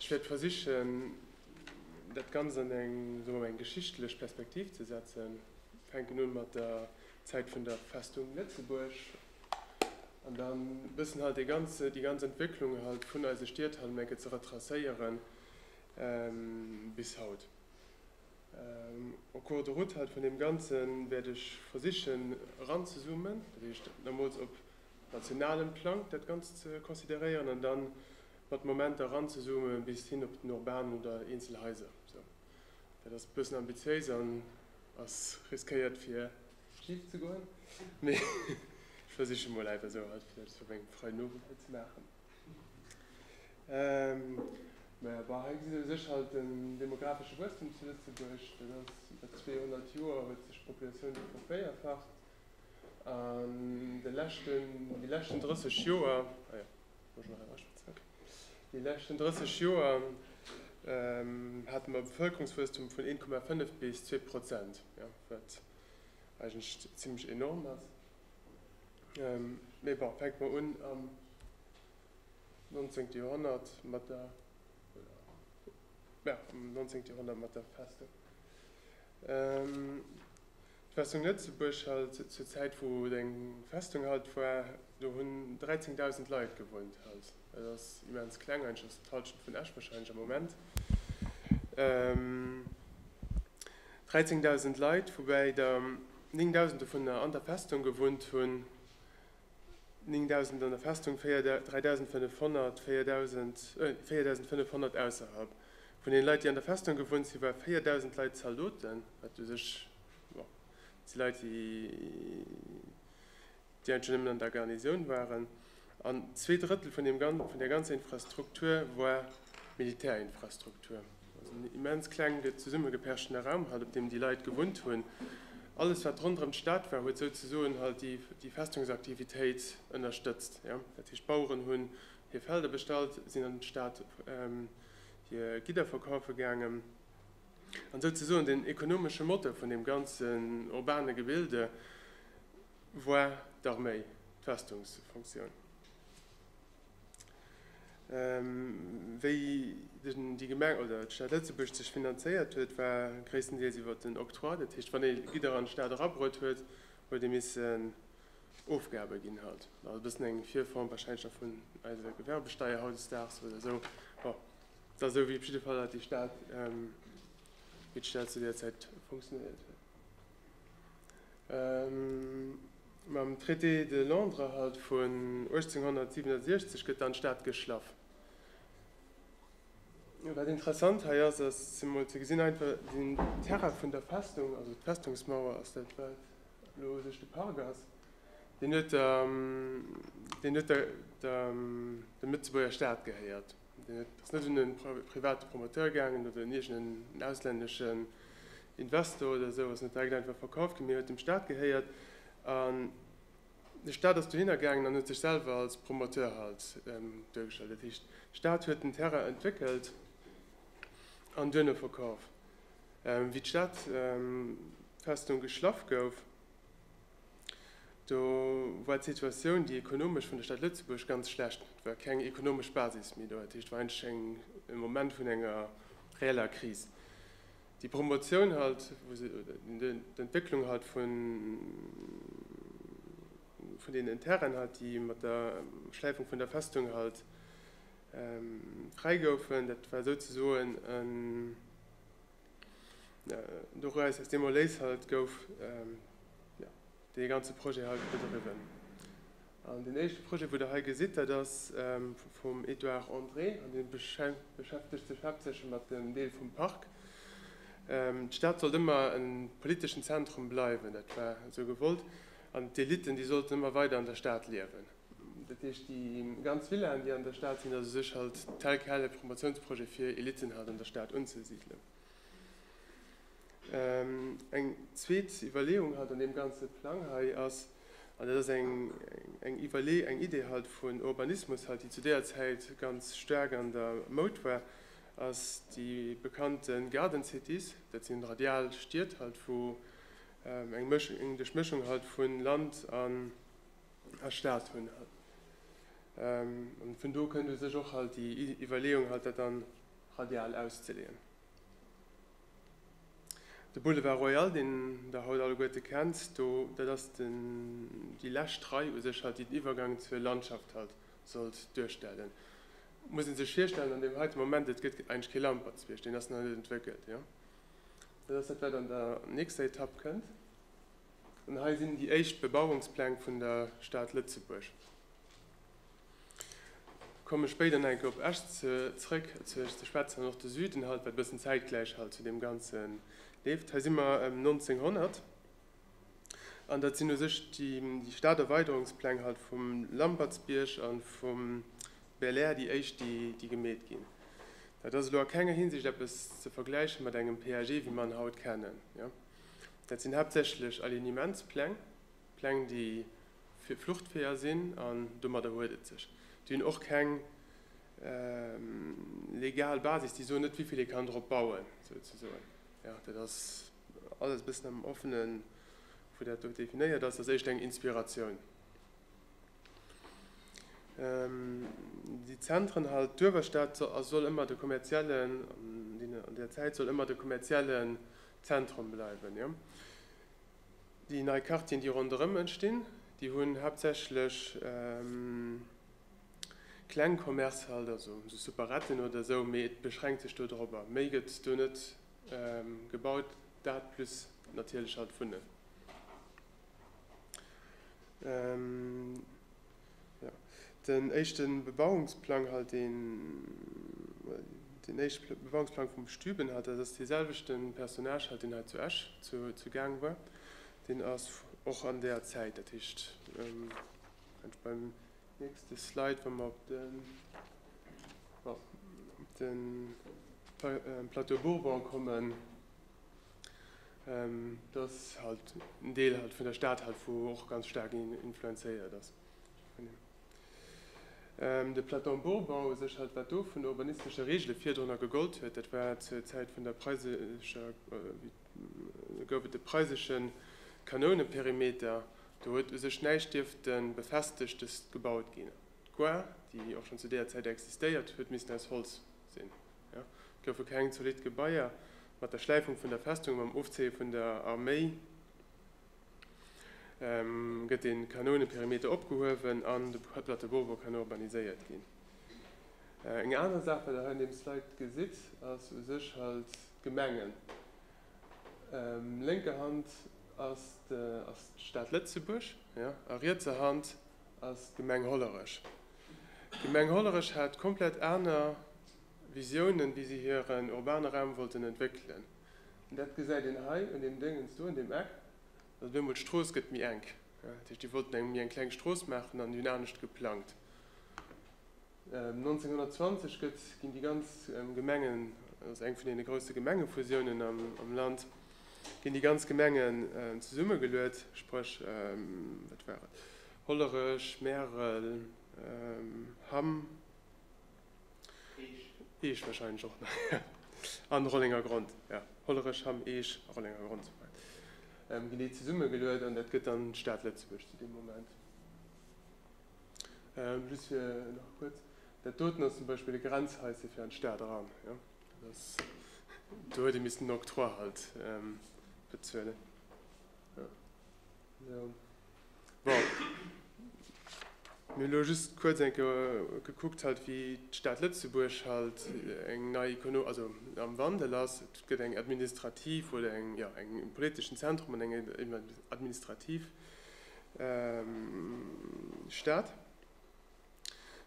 Ech wäert versichen, dat Ganzt an eng, soe mer mol, eng geschichtlech Perspektiv ze setzen. Fänken un mat der Zäit vun der Festung Lëtzebuerg an da bëssen halt dee ganze, déi ganz Entwécklung halt vun eise Stied halt emol enke ze retracéieren bis haut. Au cours de route halt vun deem Ganze wäert ech versichen eranzezoomen, dat heescht, da mools op nationalem Plang dat Ganzt ze consideréieren an da mat Momenter eranzezoomen bis hin op den urbanen oder eenzel Haiser. Sou, dat ass e bëssen ambitiéis an ass riskéiert fir schif ze goen, mee ech versiche mol einfach esou halt fir dat fir meng Frei Nowuel hei ze maachen. Mä jo, bah, hei gesitt ee u sech halt den demografesche Wuesstum zu Lëtzebuerg. Dat ass, iwwer 200 Joer huet sech d'Populatioun do vervéierfacht. An de leschten, déi leschten 30 Joer, déi leschten 30 Joer hate mer e Bevëlkerungswuesstum vun 1,5 bis zwee Prozent, wat eigentlech zimlech enorm ass. Mee bon, fänke mer un am 19. Joerhonnert mat der, jo, am 19. Joerhonnert mat der Festung. D'Festung Lëtzebuerg halt zur Zäit wou et eng Festung halt war, do hunn 13.000 Leit gewunnt halt. Et ass immens kleng, eigentlech ass et d'Halschent vun Esch wahrscheinlech am Moment. 13.000 Leit, woubäi der 9.000 dovunner an der Festung gewunnt hunn, 9.000 an der Festung, 3.500, 4.000, 4.500 ausserhalb. Vun den Leit déi an der Festung gewunnt sinn waren 4.000 Leit Zaldoten, wat u sech si Leit déi eigentlech schonn nëmmen an der Garnisoun waren, an zwee Drëttel vun der ganzer Infrastruktur war Militärinfrastruktur, also en immens klengen zesummegepechten Raum halt op deem déi Leit gewunnt hunn. Alles wat ronderëm d'Stad war huet souzesoen halt déi Festungsaktivitéit ënnerstëtzt, dat heescht d'Baueren hunn Hir Felder bestallt, sinn an d'Stad hir Gidder verkaufe gaangen, an souzesoen den ekonomesche Motor vun deem ganzen urbane Gebilde war d'Arméi, d'Festungsfunktioun. Wéi déi Gemeng oder d'Stad Lëtzebuerg sech finanzéiert huet, war gréisstendeels iwwer den Octroi, dat heescht wann ee Gidder an d'Stad erabruet huet, huet ee missen Ofgabe ginn halt. Also bëssen eng Virform wahrscheinlech nach vun eiser Gewerbesteier hautdesdaags oder esou. Bon, dat esou wéi op jidde Fall dat déi Stad, ähm, wéi d'Stad zu där Zäit funktionéiert huet. Ähm, mam Traité de Londres halt vun 1867 gëtt dann d'Stad geschlaff. Wat interessant hei ass, ass zemol ze gesinn einfach den Terrain vun der Festung, also d'Festungsmauer ass dat wat Elo sech de Pargas, deen net der Lëtzebuerger Stad gehéiert, deen ass net un e private Promoteur gaangen oder un iergendeen auslänneschen Investor oder esou, ass net direkt einfach verkaf ginn, mee huet dem Stat gehéiert. An de Stat ass dohinner gaangen an huet sech selwer als Promoteur halt duergestallt. Dat heescht, de Stat huet den Terrain entwéckelt an duerno verkaf. Wéi d'Stad Festung geschlaff gouf, do war d'Situatioun, déi ekonomesch vun der Stad Lëtzebuerg ganz schlecht. Et war keng ekonomesch Basis méi do. Dat heescht, et war eigentlech eng, e Moment vun enger reeller Kris. Déi Promotioun halt, wou se oder d'Entwécklung halt vun, vun deenen Terrainen halt, déi mat der Schläifung vun der Festung halt Fräi goufen. Dat war souzesoen en Dowéis, aus deem Erléis halt gouf dee ganze Projet hei bedriwwen. An deen éischte Projet, wou Der hei gesitt, dat ass vum Edouard André an dee beschäftegt sech haaptsächlech mat dem Deel vum Park. D'Stad sollt ëmmer e politeschen Zentrum bleiwen, dat war esou gewollt, an d'Elitten, déi sollten ëmmer weider an der Stad liewen. Dat heescht, déi ganz Villaen, déi an der Stad sinn, ass u sech halt tel quel e Promotionsprojet fir Elitten halt an der Stad unzesidelen. Eng zweet Iwwerleeung halt an deem ganze Plang hei ass, an dat ass eng Iwwerlee-, eng Idee halt vun Urbanismus halt, déi zu deeër Zäit ganz staark an der Moud war, ass déi bekannte Garden Cities. Dat sinn radial Stied halt, wou eng Mësch-, eng Duerchmëschung halt vu Land an. a Staat hunn. An vun do kënnt u sech och halt déi Iwwerleeung halt dat dann radial auszeleeën. De Boulevard Royal, deen Der haut alleguerte kennt, do dat ass den déi lescht Rei u sech halt, déi den Iwwergang zur Landschaft halt sollt duerstellen. Muss ee sech virstellen an deem heite Moment, et gëtt eigentlech kee Lampertsbierg, deen ass nach net entwéckelt, jo. Dat ass dat wat an der nächster Etapp kënnt. An hei sinn déi éischt Bebauungspläng vun der Stad Lëtzebuerg. Komme spéider nach eng Kéier op Esch zrëck zu Esch ze schwätzen an och de Süden halt, wat bëssen zäitgläich halt zu deem Ganze leeft. Hei si mer ëm 1900 an dat sinn u sech déi Staderweiderungspläng halt vum Lampertsbierg a vum Belair déi éischt, déi déi gemeet ginn. Dat ass elo a kenger Hinsicht eppes ze vergläiche mat engem PAG wéi mer en haut kennen. Dat sinn haaptsächlech Alignementspläng, Pläng déi fir Fluchtweeër sinn, an domadder huet et sech. Déi hunn och keng legal Basis, déi soen net wéivill ee kann drop bauen souzesoen. Jo, dat ass alles e bëssen am Offene wou dat do definéiert ass, dat ass éischt eng Inspiratioun. Déi Zentren halt, d'Uewerstad soll ëmmer de kommerziellen, an deene, an där Zäit soll ëmmer de kommerzielle Zentrum bleiwen. Déi nei Quartieren, déi ronderëm entstinn, déi hunn haaptsächlech kleng Commercë halt, also sou Superetten oder esou, mee et beschränkt sech do dorobber. Méi gëtt do net gebaut, dat plus natierlech halt d'Wunnen. Den éischte Bebauungsplang halt een, den éischte Bebauungsplang vum Stüben halt, dat ass dee selwechte Personnage halt, deen hei zu Esch zu gaange war. Deen ass och an där Zäit, dat heescht, kann ech beim nächste Slide, wa mer op de, op de Plateau Bourbon kommen, Dass halt en Deel halt vun der Stad halt vu och ganz staark influenzéiert ass. De Platon-Bourbau u sech halt, wat do vun de urbanistesche Reegele virdrunner gegollt huet, dat war zur Zäit vun der preisescher, do gouf et de preiseschen Kanouneperimeter, do huet u sech näischt dierfte Befestegtes gebaut ginn. D'Gare, déi och schonn zu deeër Zäit existéiert, huet missten aus Holz sinn. Et goufe keng zolidd Gebaier. Mat der Schläifung vun der Festung a mam Ofzéie vun der Arméi gëtt de Kanouneperimeter opgehuewen an de Plateau Bourbon kann urbaniséiert ginn. Eng aner Saach, wat Der hei an deem Slide gesitt, ass u sech halt d'Gemengen. Lénker Hand ass d'Stad Lëtzebuerg a rietser Hand ass d'Gemeng Hollerech. D'Gemeng Hollerech hat komplett aner Visiounen, wéi si hiren urbane Raum wollten entwéckelen. An dat gesäit een hei un deem Déngens do, un deem Eck, dass op eemol d'Strooss gëtt méi enk. Dat heescht, déi wollten eng méi eng kleng Strooss maachen an déi hunn anescht geplangt. 1920 gëtt, ginn déi ganz Gemengen, dat ass eng vun deene grousse Gemengefusiounen am Land, ginn déi ganz Gemengen zesummegeluet, spréch, wat war et? Hollerech, Märel, Hamm, Eech wahrscheinlech och nach, jo, an Rollenger Grond, jo, Hollerech, Hamm, Eech a Rollenger Grond souwäit ginn déi zesummegeluet an dat gëtt dann d'Stad Lëtzebuerg zu deem Moment. Just fir nach kuerz, dat doten ass zum Beispill e Grenzhaisschen fir an d'Stad eran, jo, dat ass, do huet ee missten en Octroi halt bezuelen, jo. Jo. Bon. Mir hu lo just kuerz eng Kéier gekuckt halt, wéi d'Stad Lëtzebuerg halt eng nei Ekono-, also am Wandel ass. Et gëtt eng administrativ oder eng, jo, eng, e politeschen Zentrum an eng administrativ Stad.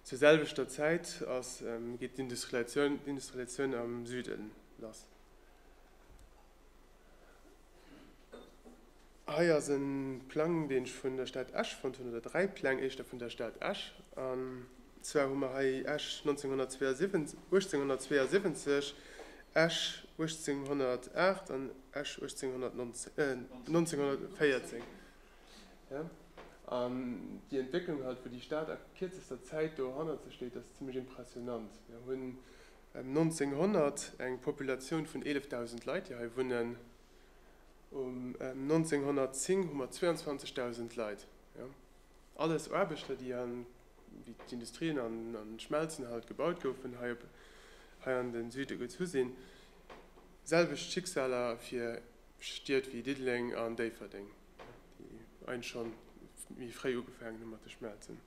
Zur selwechter Zäit ass, geet d'Industrialisatioun, d'Industrialisatioun am Süden lass. Hei ass e Plang, deen ech vun der Stad Esch fonnt hunn, oder dräi Pläng éischter vun der Stad Esch. An zwar hu mer hei Esch 1872, Esch 1808 an Esch 1914. An déi Entwécklung halt, wou déi Stad a kierzester Zäit do hannerze steet, ass zimlech impressionant. Mir hunn Ëm 1900 eng Populatioun vun 11.000 Leit, déi hei wunnen. Um 1910 hu mer 22.000 Leit. Alles Aarbechter, déi an, wéi d'Industrien an d'Schmelzen halt gebaut goufen, hei op, hei an de Süde gezu sinn. Selwecht Schicksal awer fir Stied wéi Diddeleng an Déifferdeng, déi eigentlich scho méi fréi ugefaangen hu mat de Schmelzen.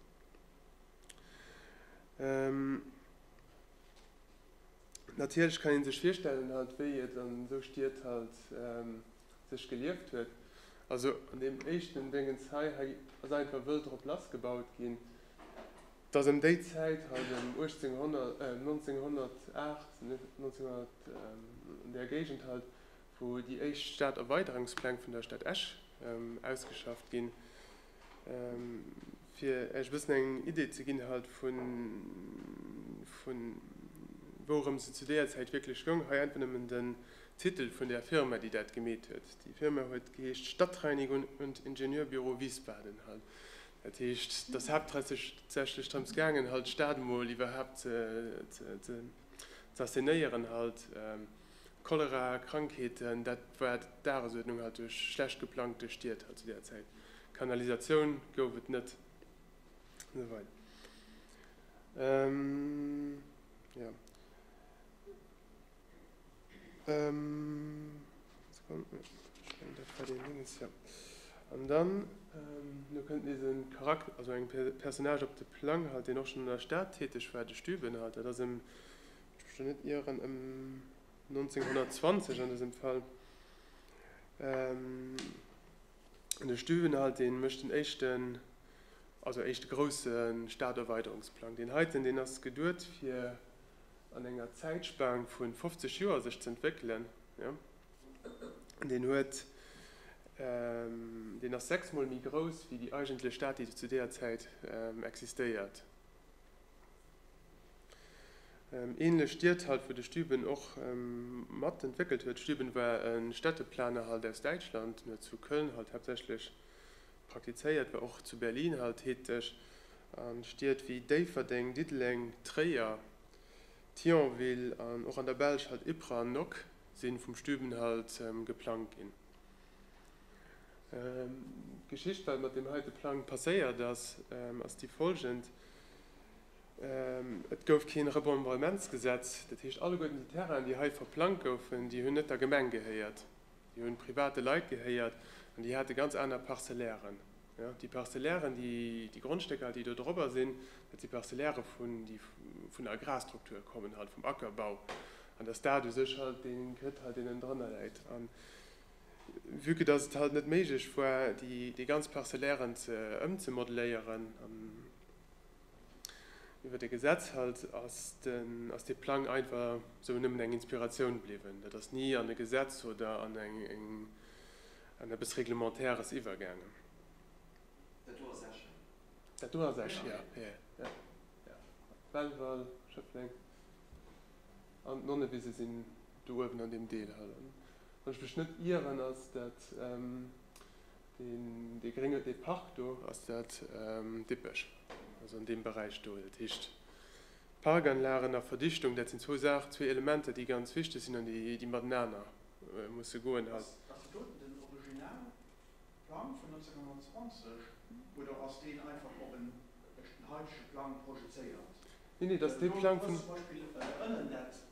Natierlech kann ee sech virstellen halt, wéi et an esou Stied halt sech gelieft huet. Also an deem éischten Déngens hei, hei ass einfach wëll drop lass gebaut ginn, dass ëm déi Zäit halt, ëm 1800, 1908, 1900, an där Géigend halt, wou déi éischt Staderweiderungspläng vun der Stad Esch ausgeschafft ginn, Fir Äech e bëssen eng Idee ze ginn halt vun vun wourëms et zu déer Zäit wierklech goung, hei einfach nëmmen den Titel vun der Firma déi dat gemeet huet. Déi Firma huet geheescht Stadtreinigung und Ingenieurbüro Wiesbaden halt. Dat heescht dass haaptsächlech drëms gaangen halt d'Stad mol iwwerhaapt ze ze assenéieren halt. Cholera, Krankheeten, dat war d'Dagesuerdnung halt duerch schlecht geplangte Stied halt zu där Zäit. Kanalisatioun gouf et net an esou weider. An dann elo kënnt nees e Charakter, also e Personnage op de Plang halt, deen och schonn an der Stad täteg war, de Stübben halt. Dat ass e. Ech mech do net ieren, ëm 1920 an dësem Fall. De Stüwenhalt dee mécht den éischten, also éischte grousse Staderweiderungsplang. Deen heiten, deen ass geduet fir an enger Zäitspan vu 50 Joer sech z'entwéckelen. Deen huet, deen ass sechs mol méi grouss wéi déi eigentlech Stad, déi zu deeër Zäit existéiert. Ähnlech Stied halt, wou de Stüben och mat entwéckelt huet. Stüben war e Städteplaner halt aus Däitschland. En huet zu Köln halt haaptsächlech praktizéiert, war och zu Berlin halt täteg. A Stied wéi Déifferdeng, Diddeleng, Tréier, Thionville an och an der Belsch halt Ypres an Nock si vum Stüben halt geplangt ginn. D'Geschicht, wat mat deem heite Plang passéiert ass, ass déi folgend, Et gouf keen Remembrementsgesetz, dat heescht alleguerten déi Terrainen déi hei verplangt goufen, déi hunn net der Gemeng gehéiert, déi hunn private Leit gehéiert an déi hate ganz aner Parcellairen. Déi Parcellairen, déi Grondstécker déi do dorobber sinn, dat si Parcellairen vun, déi vun der Agrarstruktur kommen halt, vum Ackerbau an dass dat u sech halt dee Grid halt deen ënnen drënner läit an vue que dass et halt net méiglech war déi ganz Parcellairen ze ëmzemodeléieren an Iwwert e Gesetz halt ass dee Plang einfach esou nëmmen eng Inspiratioun bliwwen. Dat ass ni an e Gesetz oder an eppes Reglementaires iwwergaangen. Dat do ass Esch, hä? Dat do ass Esch, jo, jo. Belval, Schëffleng an d'Nonnewise sinn do uewen an deem Deel hei. Wann ech mech net ieren, ass dat. Deen dee grénge dee Park do, ass dat Dippech? Also an deem Beräich do. Dat heescht Parkanlagen a Verdichtung, dat sinn zwou Saachen, zwee Elementer, déi ganz wichteg sinn an déi matenaner musse goen. Ass dat doten den Originalplang vun 1920 oder ass deen einfach op en heidege Plang projezéiert? Neen, neen, dat ass dee Plang vun. Well do ass zum Beispill ënnen dat.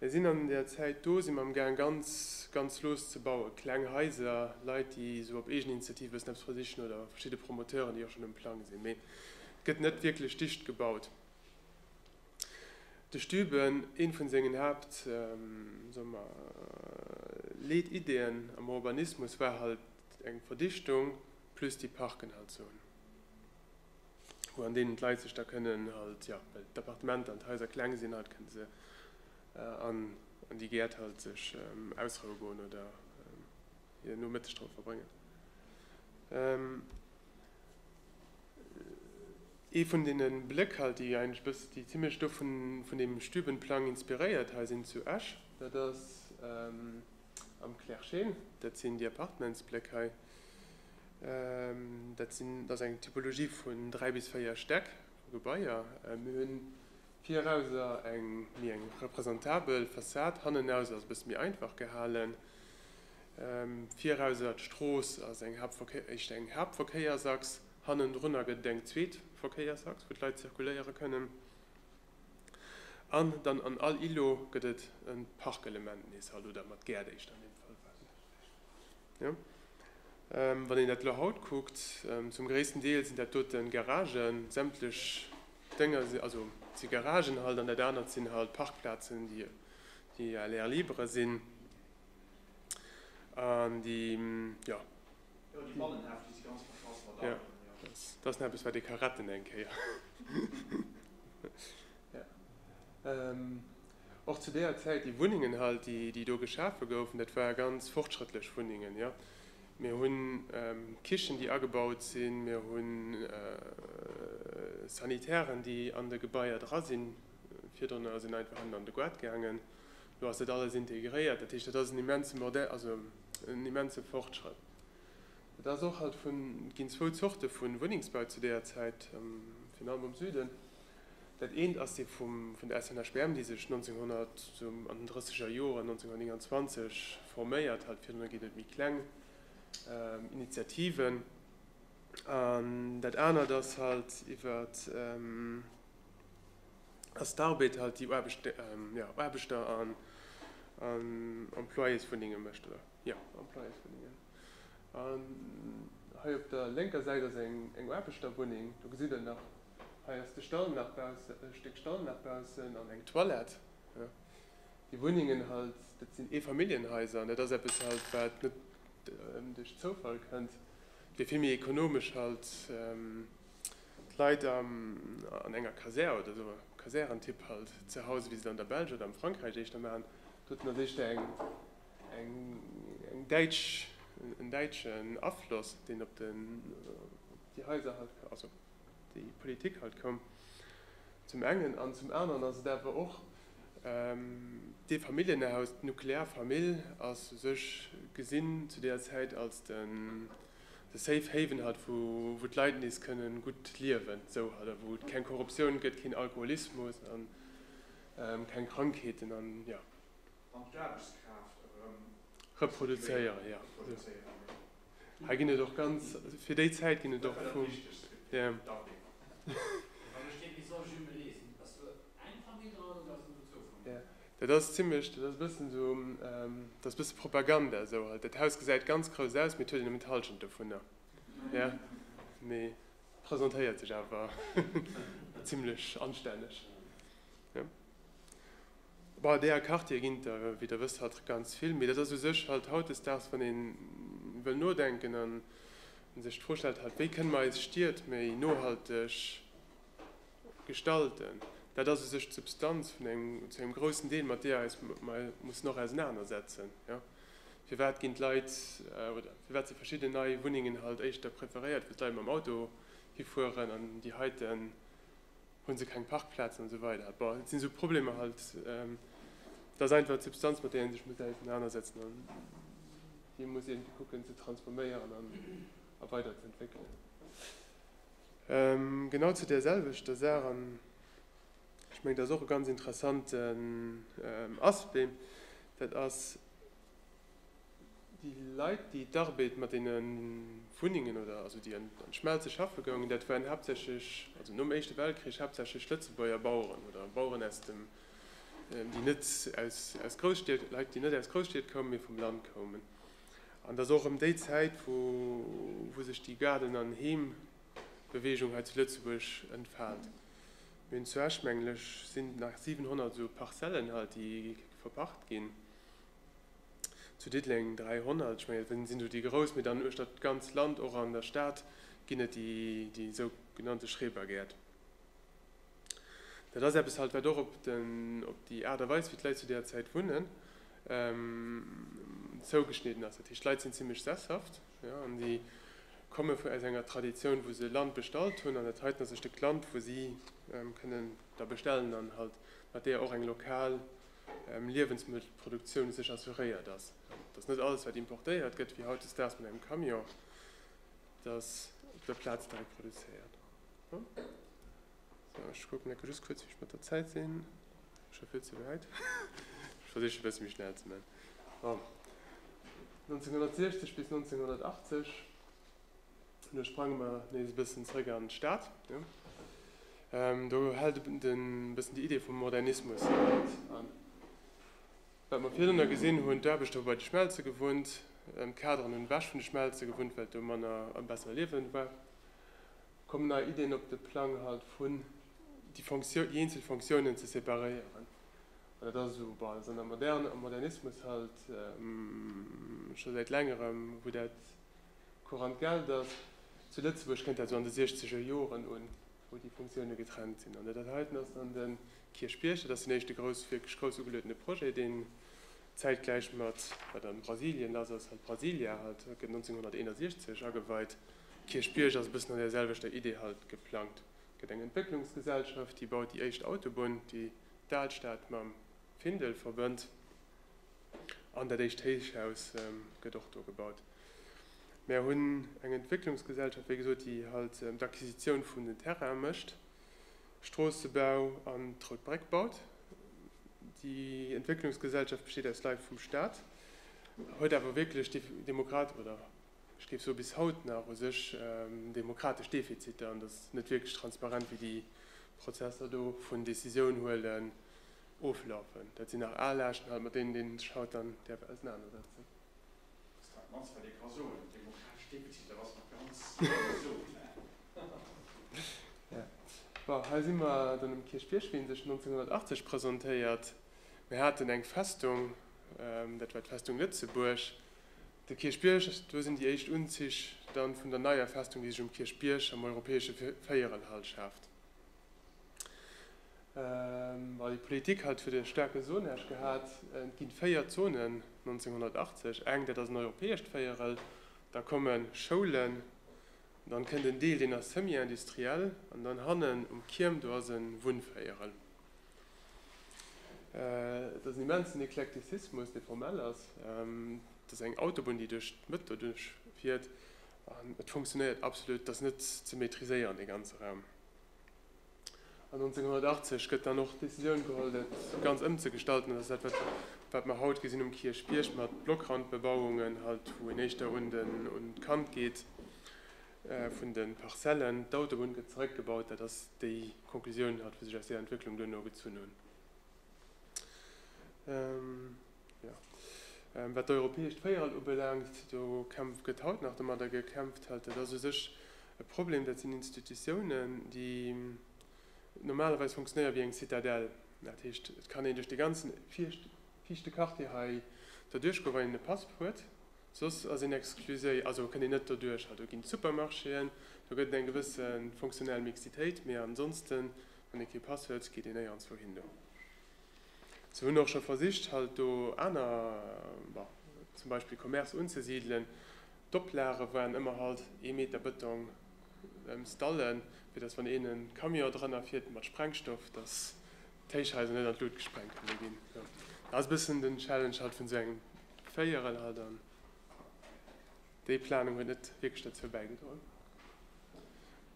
Mir sinn an der Zäit do, si mer am Gaang ganz, ganz lues ze bauen, kleng Haiser, Leit déi esou op Eegeninitiativ e bëssen eppes versichen oder verschidde Promoteuren déi och schonn um Plang sinn, mee et gëtt net wierklech dicht gebaut. De Stüben, ee vun sengen Haapt, soe mer, Leet-Ideeën am Urbanismus war halt eng Verdichtung plus déi Parken halt soen. Wou an deenen d'Leit sech da kënnen halt, ja, well d'Appartementer an d'Haiser kleng sinn halt, kënne se an an déi Gäert halt sech ausroue goen oder hir Nomëtteg dra verbréngen. Ee vun deene Bléck halt, déi eigentlech e bëss, déi zimlech do vun vun deem Stübenplang inspiréiert hei sinn zu Esch, dat ass, Am Clairchen, dat sinn déi Appartementsbléck hei, dat sinn, dat ass eng Typologie vun dräi bis véier Stäck vu Gebaier. Mir hu virauser eng méi eng representabel Fassad, hannenaus ass e bësse méi einfach gehalen. Virauser d'Strooss ass eng Haaptverkéier, éischt eng Haaptverkéiersachs, hannendrunner gëtt et eng zweet Verkéiersachs, wou d'Leit zirkuléiere kënnen. An dann an all Ilo gëtt et e Parkelement nees, hallo, oder mat Gäert éischter an deem Fall, war net schlecht, jo. Wann een dat elo haut kuckt, zum gréissten Deel sinn dat dote Garagen, sämtlech Dénger si, also si Garagen halt, an dat anert sinn halt Parkplazen, déi à l'air libre sinn an déi, jo. Jo, déi Bannenhäff, déi si ganz verschass mat Autoen, jo. Dat ass dann eppes, wat ee ka retten eng Kéier. och zu deeër Zäit déi Wunnengen halt, déi do geschafe goufen, dat war ganz fortschrëttlech Wunnengen, jo. Mir hu Kichen, déi agebaut sinn, mir hu Sanitären, déi an de Gebaier dra sinn, virdrun ass een einfach ënnen an de Goart gaangen, elo ass dat alles integréiert. Dat heescht, dat ass en immense, also en immense Fortschrëtt. Et ass och alt vun, et ginn zwou Zorte vu Wunnengsbau zu deeër Zäit, virun allem am Süden. Dat eent ass dee vum, vun der SNHBM, déi sech 1900, sou an den drësseger Joren, 1929, forméiert hat, virdrun ginn et méi kleng Initiativen. An dat anert ass halt iwwert, ass d'Arbed halt, déi Aarbecht, jo, Aarbechter an Employéswunnenge mécht, oder? Jo, am Plaiers wunnen mir. An hei op der lénker Säit ass eng Aarbechterwunneng. Do gesitt der nach, hei ass de Stall nach baussen, e Stéck Stall nach baussen an eng Toilette. Déi Wunnengen halt, dat sinn Eefamilljenhaiser an dat ass eppes halt, wat net duerch Zoufall kënnt. Et wier vill méi ekonomesch halt, d'Leit an enger Kasär oder esou Kasärentyp halt ze Hause, wéi se et an der Belsch oder am Frankräich éischter maachen. Doten ass éischter eng En däitschen Afloss, deen op déi Haiser, also op déi Politik halt koum, zum engen. An zum aneren ass et awer och dee Familljenhaus, d'nuklear Famill ass u sech gesinn zu deeër Zäit als de safe haven halt, wou d'Leit nees kënne gutt liewen, esou halt, a wou et keng Korruptioun gëtt, keen Alkoholismus a keng Krankheeten. an d'Aarbechtskraaft erëm reproduzéieren. Ja, hei ginn et och ganz fir déi Zäit ginn et och vum Dumping. Dat ass zimlech, dat ass e bëssen esou, dat ass e bësse Propaganda esou. Dat Haus gesäit ganz grouss aus, mee et huet een nëmmen d'Hallschent dovunner. Ja, mee presentéiert sech awer zimlech anstänneg. Bei der Carte ginn et der, wéi Der wësst, haut ganz vill, mee dat ass u sech halt hautdesdaags, wann ee wëll nodenken an sech d'Fro stellt, halt, wéi kënne mer eis Stied méi nohalteg gestalten, dat ass u sech d'Substanz vun engem, zu engem groussen Deel, mat deeër eis mer mussen och ausenanersetzen. Jo, firwat ginn d'Leit oder firwat si verschidden nei Wunnengen halt éischter preferéiert, wou d'Leit mam Auto hifueren an déi heiten Hunn se keng Parkplazen an esou weider. Bon, et sinn esou Problemer halt. Et ass einfach d'Substanz, mat där ee sech muss ausenanersetzen an déi muss iergendwéi kucken ze transforméieren an a weider ze entwéckelen. Genau zu där selwechter Saach, an ech mengen, dat ass och e ganz interessanten Aspect, dat ass, Déi Leit, déi d'Arbeed mat deene Wunnengen oder also déi an d'Schmelze schaffe goungen, dat waren haaptsächlech, also nom Éischte Weltkrich, haaptsächlech Lëtzebuerger Baueren oder Baueren aus dem, déi net aus, aus Grousstied, Leit, déi net aus Grousstied koumen, mee vum Land koumen. An et ass och erëm déi Zäit, wou, wou sech déi Gaarden an Heem-Beweegung hei zu Lëtzebuerg entfaalt. Mir hunn zu Esch, mengen ech, sinn nach 700 esou Parcellen halt, déi verpacht ginn, zu Diddeleng 300, ech mengen et sinn esou déi grouss, mee dann uechter d'ganz Land, och an der Stad ginn et déi esou genannte Schrebergäert. Dat ass eppes halt, wat och op den, op déi Aart a Weis, wéi d'Leit zu där Zäit wunnen, zougeschnidden ass. Dat heescht, d'Leit sinn zimmlech sesshaft, jo, an déi komme vun, aus enger Traditioun, wou se Land bestallt hunn an dat heiten ass e Stéck Land, wou si kënnen da bestellen an halt mat där och eng lokal Liewensmëttelproduktioun u sech assuréiert ass, dass net alles, wat importéiert gëtt, wéi hautdesdaags mat engem Camion, dass op der Plaz direkt produzéiert. Ech kucken ecke just kuerz, wéi ech mat der Zäit sinn. Scho vill ze wäit. Ech versichen, e bësse méi schnell ze man. Bon, 1960 bis 1980 Lo sprange mer nees e bëssen zeréck an d'Stad. Do hält e bëssen déi Idee vum Modernismus an. Wat mer virdrunner gesinn hunn, d'Aarbechter hu bei de Schmelze gewunnt, d'Kaderen hunn ewech vun de Schmelze gewunnt, well et do manner a besser Liewen war. Kommen nei Ideen op de Plang halt vun déi Fonctioun, déi eenzel Fonctiounen ze separéieren. An dat ass esou, bah, esou an der Moderne, am Modernismus halt scho säit längerem, wou dat Courant Geld ass zu Lëtzebuerg, kënnt dat esou an de siechzeger Joren un, wou déi Funktioune getrennt sinn. An dat dat heiten ass an de Kierchbierg, dat ass den éischte grouss, wierklech grouss ugeluedene Projet, deen zäitgläich mat wat a Brasilien lass ass, haut Brasilia, haut gëtt 1961 ageweit. Kierchbierg ass e bëssen an där selwechter Idee halt geplangt. Et gëtt eng Entwécklungsgesellschaft, déi baut déi éischt Autobunn, déi d'Alstad mam Findel verbënnt. An dat éischt Héichhaus gëtt och do gebaut. Mär hunn eng Entwécklungsgesellschaft, wéi gesot, déi halt d'Acquisitioun vun den Terraine mécht, Stroossebau an d'Rout Bréck baut. Déi Entwécklungsgesellschaft besteet aus Leit vum Stat, huet awer wierklech demokrat, oder ech géif soe bis haut nach u sech demokratesch Defiziter an ass net wierklech transparent, wéi déi Prozesser do vun Décisioun huelen oflafen. Dat sinn nach al Aarschen halt, mat deenen een sech haut dann däerf ausenanersetzen. Pascal Mans, Wat ee ka soen, de demografesch Defizit, dat ass nach ganz vill gesot, hä? Bon, hei si mer dann um Kierchbierg, wéi en sech 1980 presentéiert. Mir haten eng Festung, dat war d'Festung Lëtzebuerg. De Kierchbierg, do sinn déi éischt Unzich dann vun der neier Festung, déi sech um Kierchbierg am europäesche Véierelhall schaaft. Well d'Politik hat fir de staarke Zonage gehat, et ginn véier Zonen, 1980 eng, dat ass en europäescht Véierel, da kommen Schoulen, dann kënnt en Deel, deen ass semi-industriell, an dann hannen um Kierm, do ass e Wunnvéierel. Et ass en immensen Eklektizismus, dee formell ass. Et ass eng Autobunn, déi duerch d'Mëtt doduerch fiert, an et funktionéiert absolut, et ass net ze maitriséieren, dee ganze Raum. An 1980 gëtt dann och d'Decisioun geholl, dat Ganzt ëmzegestalten. Dat ass dat, wat mer haut gesinn um Kierchbierg mat Blockrandbebauungen, halt wou een éischter un d'Kant geet vun de Parzellen. D'Autobunn gëtt zeréckgebaut. Dat ass déi Conclusioun, halt, wou sech aus där Entwécklung duerno gezunn hunn. Wat d'europäescht Véierel ubelaangt, do gëtt haut nach domadder gekämpft. Dat ass u sech e Problem. Dat sinn Institutiounen, déi normalerweis funktionéiere wéi eng Zitadell. Dat heescht, et kann een duerch de ganzen fiichte Quartier hei doduerch goen, wann een e Pass huet. Soss ass een excluséi, also kënnt een net doduercher. Do ginn d'Supermarchéen, do gëtt et eng gewësse funktionell Mixitéit, mee ansonsten, wann ee kee Pass huet, geet een néierens wouhin. Se hunn och scho versicht halt do aner, bon, zum Beispill Commercë unzesidelen. D'Oplage waren ëmmer halt ee Meter Bëtong ëm Stallen, fir datt wann een e Camion drënner fiert mat Sprengstoff, datt d'Héichhaiser net an d'Lut gesprengt kënne ginn. Dat ass e bëssen den Challenge halt vun esou engem Véierel halt an déi Planung huet net wierklech derzou bäigedroen.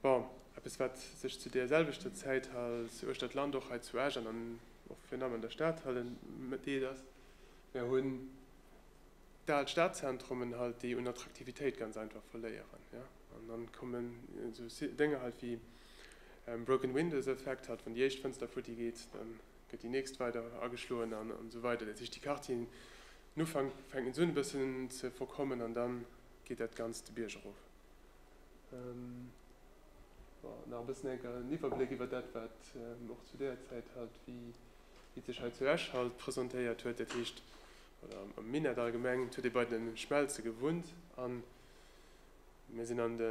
Bon, eppes wat sech zu deer selwechter Zäit hals uechter d'Land och hei zu Esch an an och virnamm an der Stad halen deet ass, mär hunn d'al Stadzentrummen halt déi un Attraktivitéit ganz einfach verléieren, jo. An dann kommen esou Dénger halt wéi broken windows Effekt, halt wann déi éischt Fënster futti geet, dann gëtt déi nächst weider ageschloen an esou weider. Dat heescht déi Quartieren um Ufank fänken se un e bëssen ze verkommen an dann geet dat Ganzt de Bierg erof. Nach e bëssen en Iwwerbléck iwwer dat, wat Mir och zu deeër Zäit hat, wéi et sech hei zu Esch halt presentéiert huet, dat heescht am Minett allgemeng. Huet ee bei de Schmelze gewunnt a mir sinn an de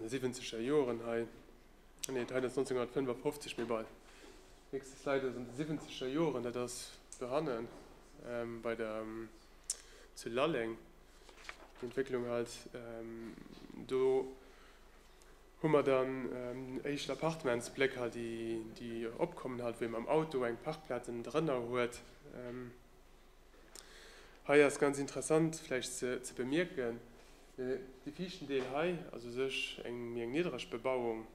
siwwenzeger Joren hei, nee, hei ass 1955, mee bei, nächste Slide, also an de siwwenzeger Joren, dat ass do hannen bei der, zu Lalleng. Déi Entwécklung halt do. Hu mer dann éischt Appartementsblécker, déi opkommen, halt wou ee mam Auto eng Parkplaz ënnen drënner huet. Hei ass ganz interessant vläicht ze bemierken, dee viischten Deel hei ass u sech méi eng niddreg Bebauung.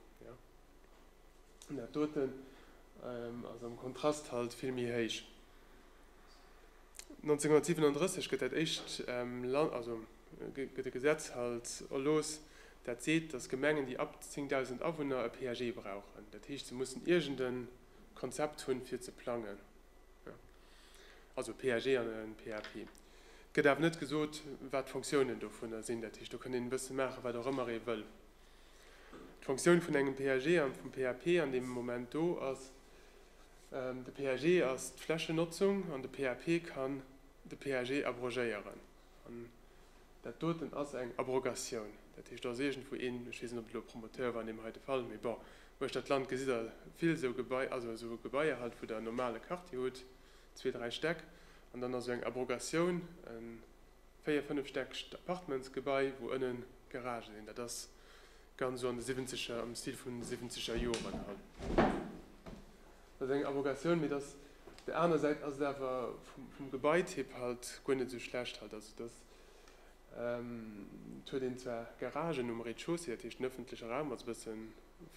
Dat doten ass am Kontrast halt vill méi héich. 1937 gëtt dat éischt Land, also gëtt e Gesetz halt erlooss, dat seet, datt Gemengen, déi ab 10.000 Awunner e PAG brauchen. Dat heescht, se mussen iergend e Konzept hunn, fir ze plangen. Also e PAG an e PAP. Et gëtt awer net gesot, wat d'Fonctiounen dovunner sinn. Dat heescht, do kënnt een e bësse maachen, wat och ëmmer ee wëll. D'Fonctioun vun engem PAG an vum PAP an deem Moment do ass, De PAG ass d'Flächennotzung an de PAP kann de PAG abrogéieren. An dat doten ass eng Abrogatioun. Dat heescht, da ass iergendwou een, ech weess net, ob et elo e Promoteur war an deem heite Fall, mee bon, uecht dat Land gesitt Der vill esou Gebaier, also esou Gebaier halt, wou Der en normale Quartier hutt, zwee, dräi Stäck, an dann ass esou eng Abrogatioun en 4, 5 stäckegt Appartementsgebai, wou ënnen Garagen sinn. Dat ass ganz esou an de Siwwenzeger, am Stil vun de Siwwenzeger Joren hei. Dat ass eng Avogatioun, mee et ass, op der anerer Säit ass et awer vum Gebaityp halt guer net esou schlecht halt. Also et ass, et huet een zwar Garagen um Rez-de-chaussée, dat heescht den ëffentleche Raum ass e bësse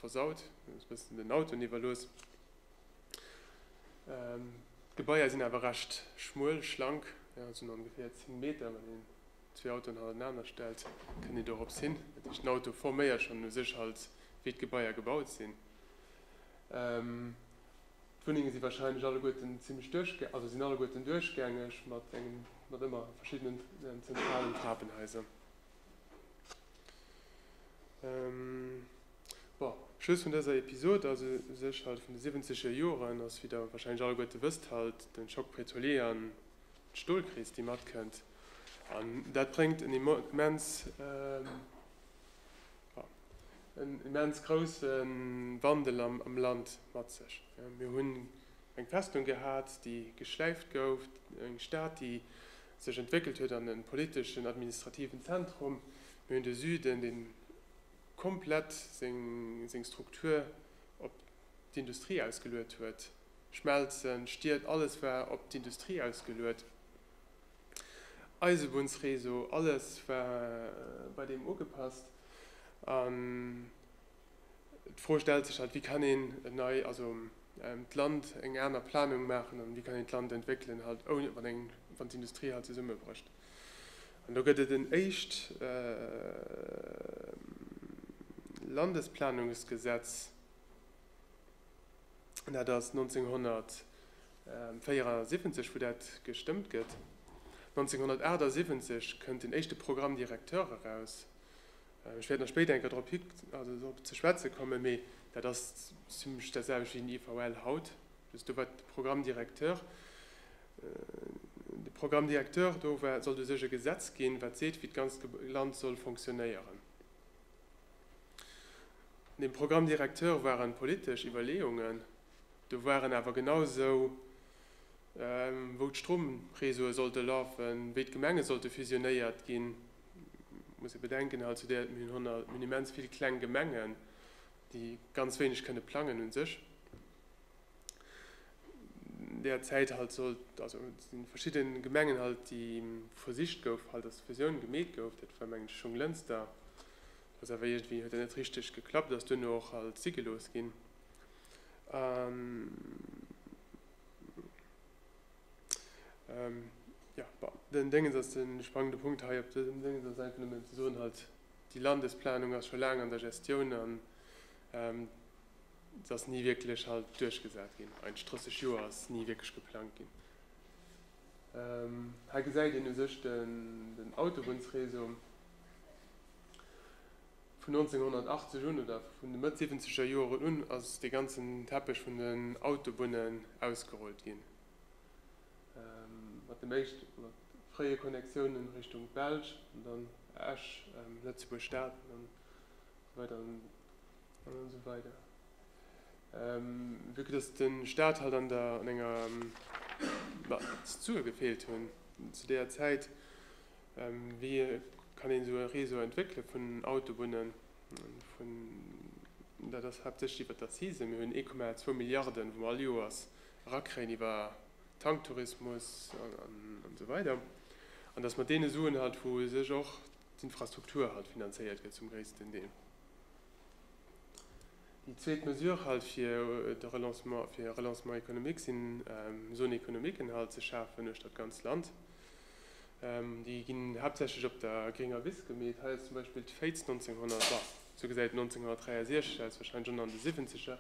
versaut, ass e bëssen den Autoen iwwerlooss. D'Gebaier sinn awer recht schmuel, schlank, jo sinn ongeféier 10 Meter, wann een zwee Autoen hanenaner stellt kënnt een dorops hin. Dat heescht den Auto forméiert schonn u sech halt wéi d'Gebaier gebaut sinn. D'Wunnenge si warscheinlech alleguerten zimlech duerchgängeg, also sinn alleguerten duerchgängeg mat engem, mat ëmmer verschiddenen zentralen Trapenhaiser. Bon, Schluss vun dëser Episod ass u sech halt vun de siwwenzeger Joren ass, wéi der wahrscheinlech alleguerte wësst, halt den Choc pétrolier an d'Stolkris déi matkënnt an dat bréngt en immens, bon, en immens groussen Wandel am Land mat sech. Mir hunn eng Festung gehat déi geschläift gouf, eng Stad déi, sech entwéckelt huet an e politeschen, administrativen Zentrum. Mir hunn de Süden, dee komplett seng Struktur op d'Industrie ausgeluet huet, Schmelzen, Stied, alles war op d'Industrie ausgeluet, Eisebunnsreseau, alles war bei deem ugepasst. D'Fro stellt sech halt, wéi kann een en nei, also d'Land eng aner Planung maachen an wéi kann een d'Land entwéckelen halt ouni, wann eng, wann d'Industrie halt zesummebrécht. An do gëtt et en éischt Landesplanungsgesetz, dat ass 1974, wou dat gestëmmt gëtt. 1978 kënnt den éischte Programme directeur eraus. Ech wäert nach spéider eng Kéier drop ze schwätze kommen, mee dat ass zimlech dat selwecht wéi den IVL haut. Dat ass do, wat de Programme directeur, de Programme directeur do war, sollt u sech e Gesetz ginn, wat seet, wéi d'ganzt Land soll fonctionnéieren. An deem Programme directeur ware politesch Iwwerleeungen, do waren awer genausou, wou d'Stromreseaue sollte lafen, wéi d'Gemenge sollte fusionéiert ginn. muss ee bedenken, hei zu der, mir hunn immens vill kleng Gemengen, déi ganz wéineg kënne plangen u sech. Derzäit sollt, also et si verschidde Gemengen halt, déi versicht gouf, halt datt d'Fusioun gemeet gouf, dat war mengen ech Schong-Lënster, dat ass awer iergendwéi, huet dat net richteg geklappt, ass duerno och halt si gelooss ginn. Den Déngens ass de spannende Punkt hei. Op dësem Déngens ass einfach nëmmen ze soen, halt, déi Landesplanung ass scho laang an der Gestioun an se ass ni wierklech halt duerchgesat ginn. Eigentlech 30 Joer ass ni wierklech geplangt ginn. Hei gesäit een u sech den Autobunnsreseau. Vun 1980 un oder vun de Mëtt siwwenzeger Joren un ass dee ganzen Teppech vun den Autobunnen ausgerullt ginn. Mat dem éischt mat fréie Connectiounen Richtung d'Belsch an dann Esch, Lëtzebuerg Stad an dann esou weider an esou weider. Vu que dass de Staat halt an der an enger, bah, Struktur gefeelt hunn zu deeër Zäit, Wéi kann een esou e Réseau entwéckele vun Autobunnen? Dat ass haaptsächlech iwwert d'Accisen. Mir hunn 1,2 Milliarden, wou mer all Joers erakréien iwwer Tanktourismus an esou weider. An dass mat deene Suen halt, wou u sech och d'Infrastruktur halt finanzéiert gëtt zum gréissten Deel. Déi zweet Mesure halt fir de Relancement, fir e Relancement économique sinn Zones économiquen halt ze schafen uechter d'ganzt Land. Déi ginn haaptsächlech op der grénger Wiss gemeet. Hei ass zum Beispill d'Féiz 1900, bon, esou gesäit 1963 aus, warscheinlech ënner an de Siwwenzeger,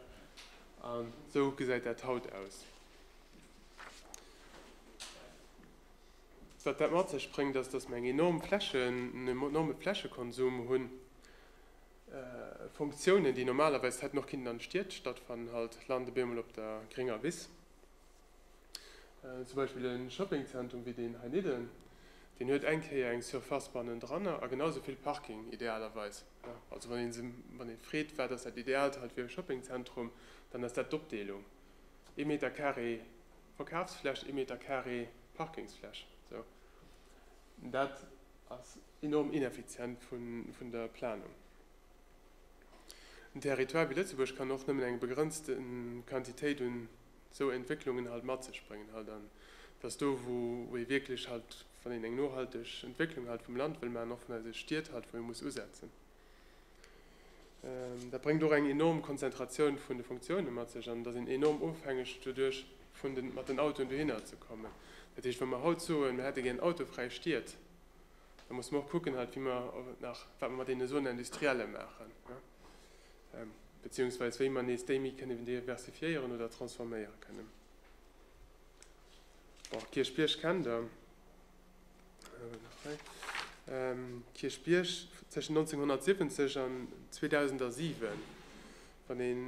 an esou gesäit dat haut aus. Wat dat mat sech bréngt, ass, datt mer eng enorm Flächen, en enorme Flächekonsum hunn. Funktiounen, déi normalerweis hätten och kinnten an de Stied stattfannen, halt lande bemol op der grénger Wiss. Zum Beispill e Shoppingzentrum wéi deen heinidden, deen huet eng Kéier eng Surface bannendranner a genau esou vill Parking, idealerweis. Also wann ee wann ee freet, wat ass dat Ideaalt hei fir e Shoppingzentrum, dann ass dat d'Opdeelung, ee Meter carré Verkafsfläch, ee Meter carré Parkingsfläch. Esou, dat ass enorm ineffizient vun der Planung. En Territoire wéi Lëtzebuerg kann och nëmmen eng begrenzte Quantitéit un. esou Entwécklungen halt mat sech bréngen halt an dass do wou ee wierklech halt, wann een eng nohalteg Entwécklung halt vum Land wëll maachen, och vun eise Stied halt, wou ee muss usetzen. Dat bréngt och eng enorm Konzentratioun vun de Funktiounen mat sech an et ass een enorm ofhängeg doduerch vun den, mat den Autoen dohinner ze kommen. Dat heescht, wa mer haut soen, mer hätte gär autofräi Stied, da musse mer och kucken halt, wéi mer nach, wat mer mat deene Zone industrielle maachen. Beziehungsweis wéi mer nees déi méi kënnen diversifiéieren oder transforméiere kënnen. Bon, Kierchbierg kennt der. Kierchbierg tëschen 1970 an 2007, wann een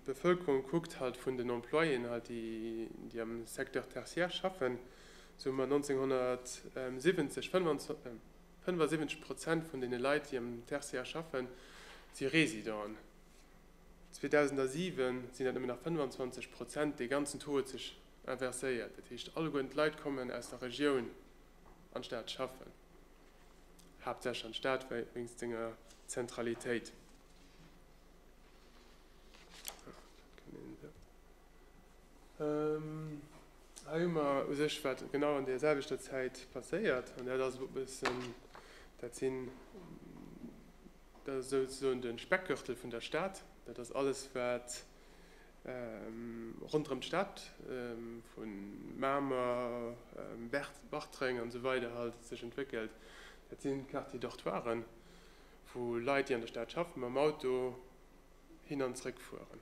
d'Bevëlkerung kuckt halt vun den Employéen halt, déi déi am Secteur tertiaire schaffen, sou hu mer 1970 25, 75 Prozent vun deene Leit, déi am Tertiaire schaffen, si Residenten. 2007 sinn dat nëmmen nach 25 Prozent. Dee ganzen Taux huet sech inverséiert. Dat heescht, alleguerten d'Leit kommen aus der Regioun an d'Stad schaffen, haaptsächlech an d'Stad wéinst senger Zentralitéit. Hei hu mer u sech, wat genau an där selwechter Zäit passéiert. An dat ass e bëssen, dat sinn, dat ass souzesoen de Speckgürtel vun der Stad. Dat ass alles, wat ronderëm d'Stad, vu Mamer, Bartreng an esou weider halt, sech entwéckelt. Dat sinn d'Quartier-dortoiren, wou Leit, déi an der Stad schaffen, mam Auto hin an zrëck fueren.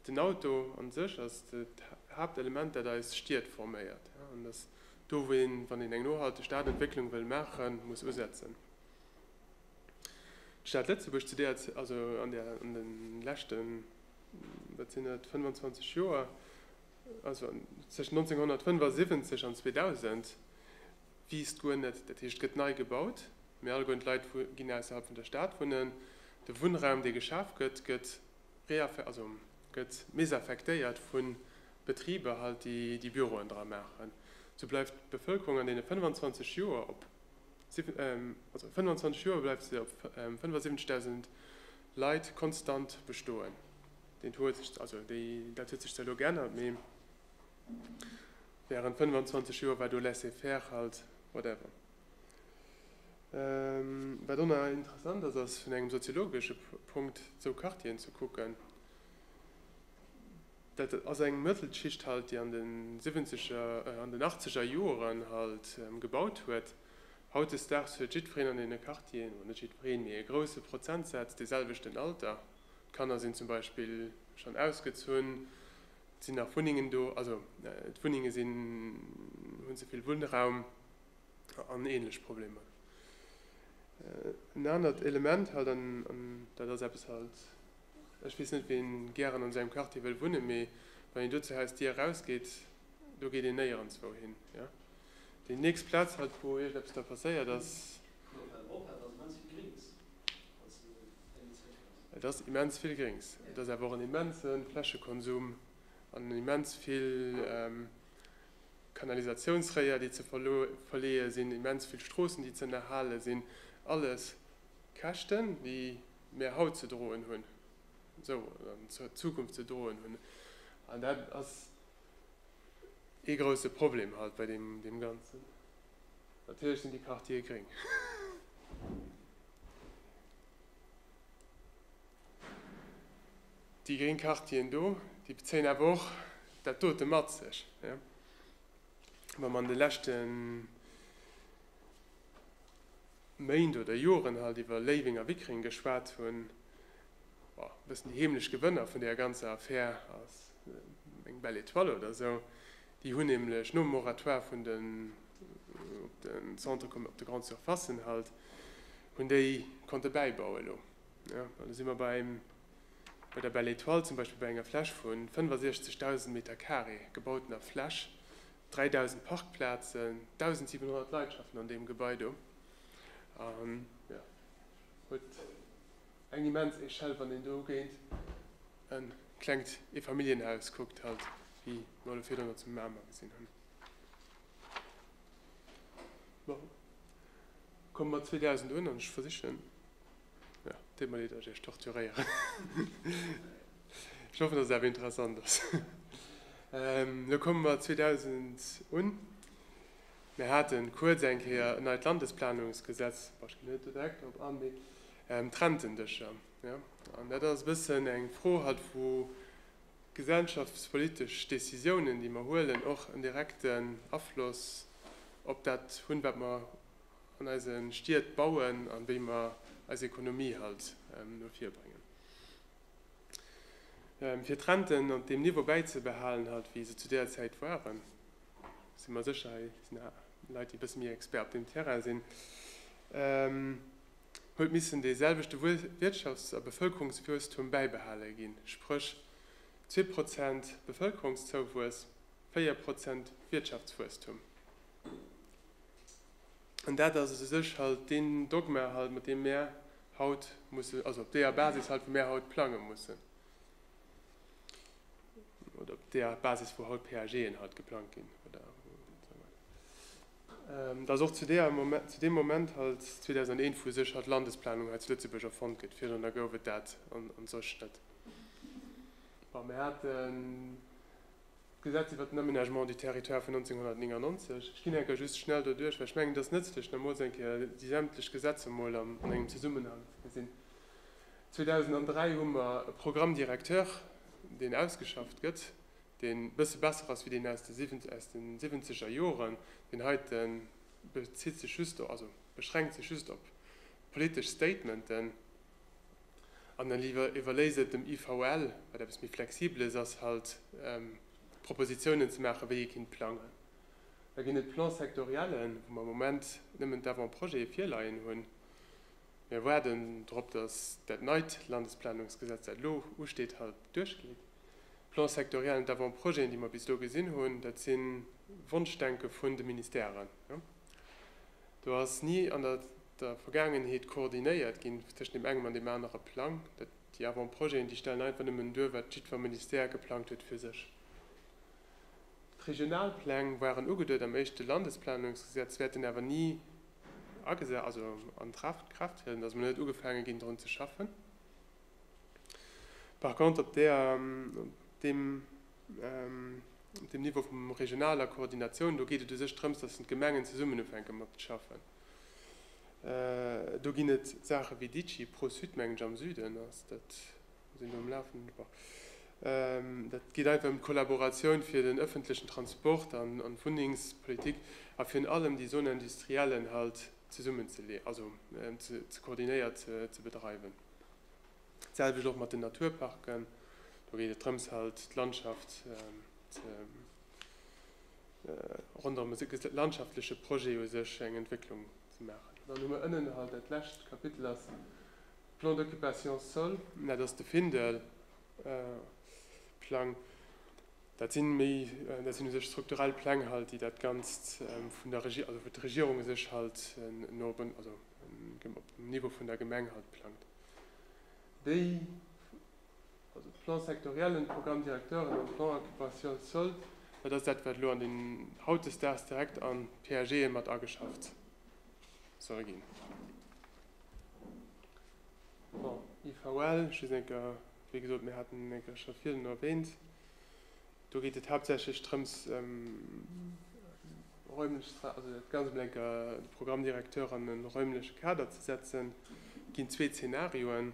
Den Auto an sech ass dat Haaptelement dat eis Stied forméiert an dass do wou een, wann een eng nohalteg Stadentwécklung wëll maachen, muss usetzen. D'Stad Lëtzebuerg zu deeër, also an der, an de leschten, wat sinn et, 25 Joer, also tëschent 1975 an 2000, wiisst guer net, dat heescht gëtt nei gebaut, mee alleguer d'Leit ginn ausserhalb vun der Stad wunnen, de Wunnraum dee geschaf gëtt, gëtt gëtt mésaffektéiert vu Betriber halt, déi déi Büroen dra maachen, sou bleift d'Bevëlkerung an deene 25 Joer op 75.000 Leit konstant bestoen. Dat huet sech zwar elo geännert, mee wärend 25 Joer war do laissez-faire halt, whatever. Wat och nach interessant ass, ass vun engem soziologesche Punkt sou Quartieren ze kucken. Dat ass eng Mëttelschicht halt, déi an den siwwenzeger, an den achtzeger Joren halt gebaut huet. Hautdesdaags huet jiddwereen an deene Quartieren, oder net jiddwereen, mee e grousse Prozentsaz dee selwechten Alter. D'Kanner sinn zum Beispill schonn ausgezunn, et sinn nach Wunnengen do, also d'Wunnenge sinn, hunn ze vill Wunnraum. an ähnlech Problemer. En anert Element halt, an dat ass eppes halt, ech weess net wien gären an esou engem Quartier wëll wunnen, mee wann een do zur Hausdier erausgeet, do geet een néierenswou hin. Déi nächst Plaz halt wou iergendeppes da passéiert ass, et ass immens vill Gréngs, et ass awer och en immense Flächekonsum an immens vill, Kanalisatiounsréier, déi ze verleeë sinn, immens vill Stroossen, déi z'ënnerhale sinn, alles Käschten, déi mir haut ze droen hunn, esou an Zukunft ze droen hunn. An dat ass ee grouse Problem haut bei deem Ganzen. Natierlech sinn déi Quartiere gréng. Déi gréng Quartieren do, déi bezéien awer och dat dote mat sech. Wa mer an de leschte Méint oder Joren halt iwwer Léiweng a Wickreng geschwat hunn, bon, e bëssen déi heemlech Gewënner vun deeër ganzer Affär ass eng Belle Etoile oder esou. Déi hunn nämlech nom Moratoire vun den, op de Centre commer-, op de Grandes Surfacen halt, hunn déi konnte bäibauen elo. Elo si mer bei engem Bei der Belle Etoile zum Beispill, bei enger Fläch vu 65.000 Meter Carré gebautener Fläch, 3.000 Parkplazen, 1.700 Leit schaffen an deem Gebai do, huet eng immens Echelle, wann een do géint e klengt Eefamilljenhaus kuckt, halt wéi mer elo virdrun zu Mamer gesinn hunn. Bon, komme mer 2000 un an ech versichen, Jo, deet mer leed, datt ech iech torturéieren. Ech hoffen, datt et awer interessant ass. Elo komme mer 2000 un. Mir hate kuerz eng Kéier en neit Landesplanungsgesetz, bon, ech ginn net direkt drop an, mee d'Rentendëscher, jo. An dat ass e bëssen eng Fro hatt, wou gesellschaftspolitesch Décisiounen, déi mer huelen, och en direkten Afloss op dat hunn, wat mer. an eise Stied bauen a wéi mer eis Ekonomie halt no vir bréngen, fir d'Renten op deem Niveau bäizebehalen halt wéi se zu där Zäit waren, si mer sécher, hei sinn Leit déi e bësse méi Expert op deem Terrain sinn, huet missen dee selwechte Wirtschafts a Bevëlkerungswuesstum bäibehale ginn, spréch zwee Prozent Bevëlkerungszouwuess, véier Prozent Wirtschaftswuesstum. An dat ass u sech halt deen Dogma halt, mat deem mär haut musse, also op deeër Basis halt, wou mär haut plange mussen, oder op deeër Basis, wou haut PAGen halt geplangt ginn. Et ass och zu deem Moment halt, 2001, wou u sech halt d'Landesplanung hei zu Lëtzebuerg erfonnt gëtt. Virdrunner gouf et dat an sech net. Bon, mir haten. D'Gesetz iwwert den Aménagement du territoire vun 1999, ech ginn enker just schnell doduerch, well ech mengen, et ass nëtzlech, nach emol eng Kéier déi sämtlech Gesetzer emol an engem Zesummenhang ze gesinn. 2003 hu mer e Programme directeur, deen ausgeschafft gëtt, deen e bësse besser ass wéi deen aus de siwwenzeger Joren. Deen heite bezitt sech just, also beschränkt sech just op politesch Statementen. An dann iwwerléis et dem IVL, wat eppes méi Flexibeles ass, halt Propositionen ze maachen, wéi ee kinnt plangen. Da ginn et Plan-sectoriellen, wou mer am Moment nëmmen d'Avant-projete virleien hunn. Mir waarden drop, dass dat neit Landesplanungsgesetz, dat elo usteet, halt duerchgeet. D'Plan-sectoriellen, d'Avant-projeten, déi mer bis elo gesinn hunn, dat si Wonschdenke vun de Ministèren. Do ass ni an der. der Vergaangenheet koordinéiert ginn tëschent deem engem an deem anere Plang. Dat déi Avant-projeten, déi stellen einfach nëmmen duer, wat jiddwer Ministère geplangt huet fir sech. D'regional Pläng waren ugeduet am éischte Landesplanungsgesetz, wäerten awer ni agesa also an Traft Kraaft trieden. Et ass emol net ugefaange ginn drun ze schaffen. Par contre op där op deem op deem Niveau vum regionaler Koordinatioun, do geet et u sech drëms, datt d'Gemengen zesummen ufänke mat schaffen. Do ginn et Saache wéi Digi, Pro-Sud meng ech am Süden ass dat, sinn do um Lafenden. Bon, dat geet einfach ëm d'Kollaboratioun fir den ëffentlechen Transport an d'Wunnengspolitik a virun allem déi Zone industriellen halt zesummen ze leeën, also ze koordinéiert ze bedreiwen. D'selwecht och mat den Naturparken, do geet et drëms halt d'Landschaft ze. ronderëm e landschaftleche Projet u sech eng Entwécklung ze maachen. Dann hu mer ënnen halt dat lescht Kapitel ass Plan d'occupation sol, dat ass de Findel Plang. Dat sinn méi, dat sinn u sech strukturell Pläng halt, déi dat Ganzt vun der Regierung, also wou d'Regierung u sech halt no op en, also op dem Niveau vun der Gemeng halt plangt. Déi. also d'Plan-sectoriellen, d'Programme directeuren an d'Plans occupationnels soldes, dat ass dat, wat elo an den hautdesdaags direkt an d'PAGe mat ageschafft soll ginn. Bon, IVL, just eng Kéier, wéi gesot, mir haten en eng Kéier scho virdrun erwähnt. Do geet et haaptsächlech drëms, räumlech, also dat Ganzt emol eng Kéier, de Programme directeur an e räumleche Kader ze setzen. Et ginn zwee Zeenarioen.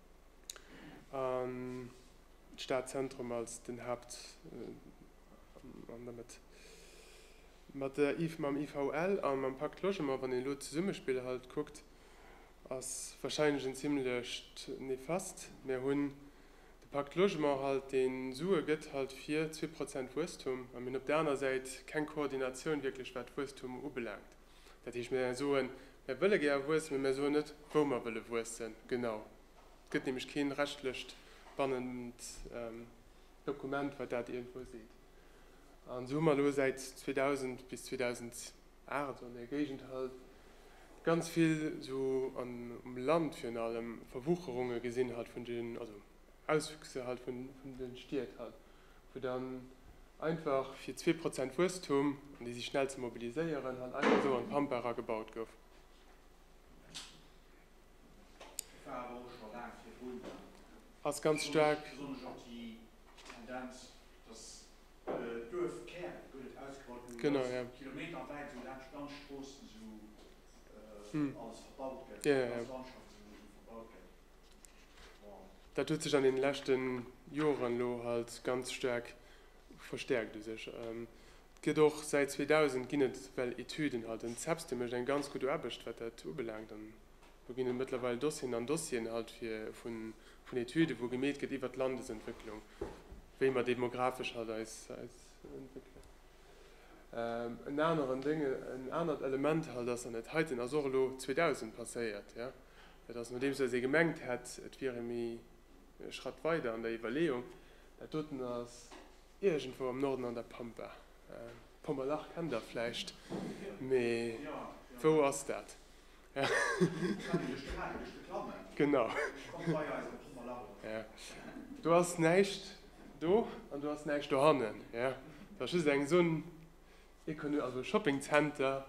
An d'Stadzentrum als den Haupt an der Mëtt. Mat der mam IVL a mam Pacte Logement, wann een elo d'Zesummespill halt kuckt, ass wahrscheinlech en zimmlecht néfaste. Mir hunn de Pacte Logement halt, deen Sue gëtt halt fir zwee Prozent Wuesstum, a mir hunn op der aner Säit keng Koordinatioun wierklech wat Wuesstum ubelaangt. Dat heescht, mir soen, Mir wëlle gär wuessen, mä mir soen net, wou mer wëlle wuessen, genau. Et gëtt nämlech kee rechtlecht bannent Dokument, wat dat iergendwou seet. An esou hu mer elo säit 2000 bis 2008, esou an där Géigend halt, ganz vill esou an, um Land virun allem, Verwucherunge gesinn halt vun den, also. Auswüchse halt vun den Stied halt, wou dann einfach fir zwee Prozent Wuesstum, an déi si schnell ze mobiliséieren, halt einfach esou an d'Pampe era gebaut gouf. Ass ganz staark. Genau jo. Hm. Jo jo jo. Dat huet sech an den leschten Joeren elo halt ganz staark verstäerkt u sech. Et gëtt och säit 2000 ginn et well Etüden halt. Den Cepste mécht eng ganz gutt Aarbecht wat dat ubelaangt an do ginn et mëttlerweil Dossieren an Dossieren halt fir vun Etüden wou gemeet gëtt iwwert d'Landesentwécklung wéi mer demographesch halt eis entwéckelen. En aneren Dënge, en anert Element halt ass, an dat heiten ass och elo 2000 passéiert, Dat ass nodeems datt ee gemengt hätt, et wier ee méi e Schratt weider an der Iwwerleeung. Dat doten ass iergendwou am Norden an der Pampa. Pommerlach kennt Der vläicht, mee wou ass dat? Genau. Do ass näischt do an do ass näischt dohannen. Dat ass just eng Zone économique, also e Shopping Center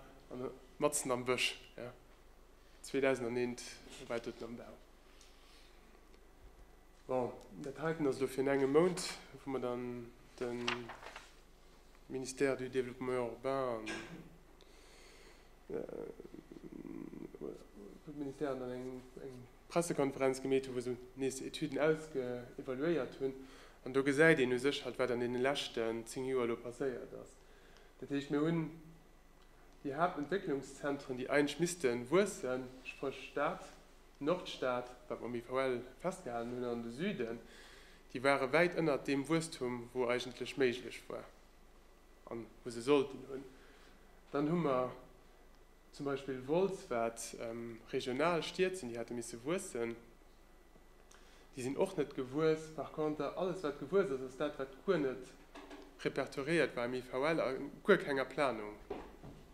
matzen am Bësch. 2001 war et doten am Bau. Bon, dat heiten ass elo fir en engem Mount, wou mer dann de Ministère du Développement urbain an de Ministère an eng Pressekonferenz gemeet hunn, wou se nees Etüden ausevaluéiert hunn. An do gesäit een u sech halt, wat an deene leschten zéng Joer elo passéiert ass. Dat heescht, mir hunn Déi Haaptentwécklungszentren, déi eigentlech misste wuessen, spréch d'Stad, d'Nordstad, wat mer am IVL festgehalen hunn, an de Süden, déi ware wäit ënnert deem Wuesstum, wou eigentlech méiglech war an wou se sollten hunn. Dann hu mer zum Beispill Wolz, wat regional Stied sinn, déi hätte misse wuessen. Déi sinn och net gewuess. Par conter, alles wat gewuess ass, ass dat wat guer net repertoriéiert war am IVL a guer kenger Planung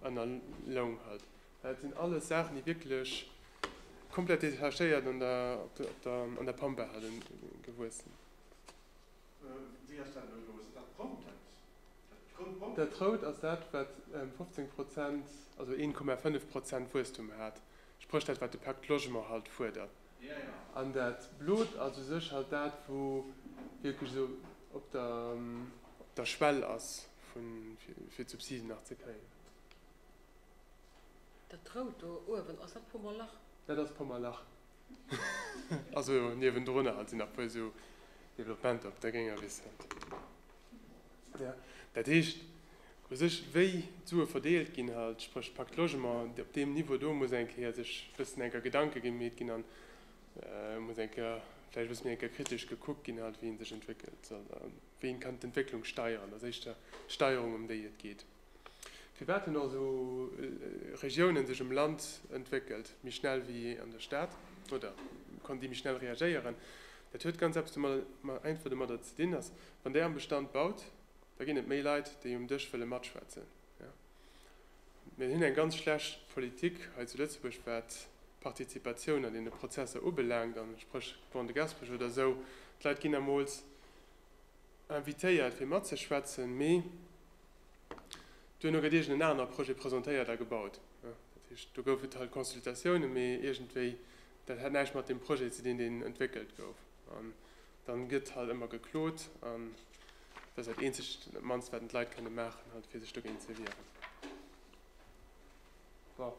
ënnerloung hat. Dat sinn alles Saachen, déi wierklech komplett detachéiert an der Pampa hate gewuessen. Wéi ass dat elo elo? Sinn dat d'Rout dat grout Brong? Dat Rout ass dat wat 15 Prozent, also 1,5 Prozent Wuesstum hat spréch dat wat de Pacte Logement halt fuerdert, an dat blot ass u sech halt dat wou wierklech esou op der Schwell ass vu fir d'Subsiden nach ze kréien. Dat rout do uewen, ass dat Pommerlach? Dat ass Pommerlach. Also niewendrunner halt sinn nach puer esou Developpementer op der grénger Wiss halt. Dat heescht U sech, wéi d'Sue verdeelt ginn, halt, spréch d'Pacte Logement, op deem Niveau do muss eng Kéier sech e bëssen eng Kéier Gedanke gemeet ginn an muss eng Kéier vläicht e bësse méi eng Kéier kritesch gekuckt ginn, halt, wéi ee sech entwéckelt soll a wéi ee kann d'Entwécklung steieren. Dat ass éischter d'Steierung, ëm déi et geet. Firwat hunn also Regiounen sech um Land entwéckelt méi schnell wéi an der Stad oder konnten déi méi schnell reagéieren? Dat huet ganz eppes domadder, einfach domadder ze dinn, dass, wann Der am Bestand baut, Da ginn et méi Leit, déi um Dësch wëlle matschwätzen. Mir hunn eng ganz schlecht Politik hei zu Lëtzebuerg, wat d'Partizipatioun an deene Prozesser ubelaangt, an spréch Grand de Gaspesch oder esou. D'Leit ginn emools invitéiert, fir matzeschwätzen, mee duerno gëtt iergend en aner Projet presentéiert a gebaut. Dat heescht, do gouf et halt Consultatiounen, mee iergendwéi, dat hat näischt mat deem Projet ze dinn, deen entwéckelt gouf. Dann gëtt halt ëmmer geklot an dat ass dat eenzegt an dat mannst wat d'Leit kënne maachen halt fir sech dogéint ze wieren. Bon,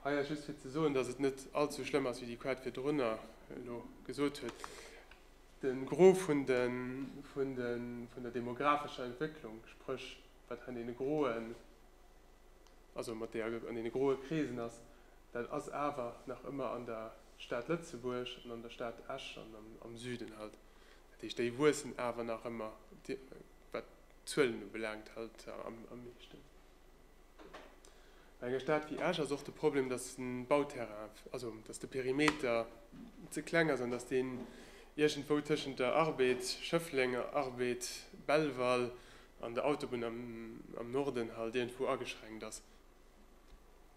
hei ass just fir ze soen, dass et net all ze schlëmm ass wéi déi Quad virdrunner elo gesot huet. De Gros vun de vun de vun der demographescher Entwécklung, spréch wat an deene groen, also mat deeër an deene groe Kreesen ass, dat ass awer nach ëmmer an der Stad Lëtzebuerg an an der Stad Esch an am Süden halt. Dat heescht, déi wuessen awer nach ëmmer, wat d'Zuelen ubelaangt, halt am meeschten. Bei enger Stad wéi Esch ass och de Problem, dass de Bauterrain, also dass de Perimeter ze kleng ass an dass deen iergendwou tëschent der Arbed, Schëffleng, Arbed, Belval an der Autobunn am Norden halt iergendwou ageschränkt ass.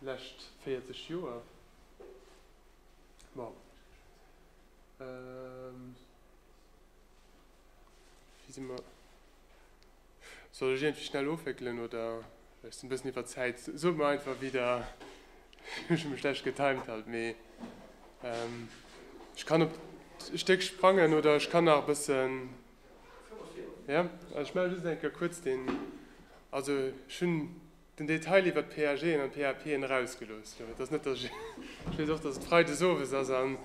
lescht 40 Joer, ma wéi si mer, soll ech iergendwéi schnell ofwéckelen oder ech sinn e bëssen iwwer Zäit, sot mer einfach wéi der, ech hu mech schlecht getimed halt, mee ech kann op d'Stéck sprangen oder ech kann nach e bëssen, jo ech maache just eng Kéier kuerz den, also ech hunn. Den Detail iwwert d'PAGen an d'PAPen erausgelooss. Jo, et ass net, dass ech, ech weess och, dass et Freides owes ass an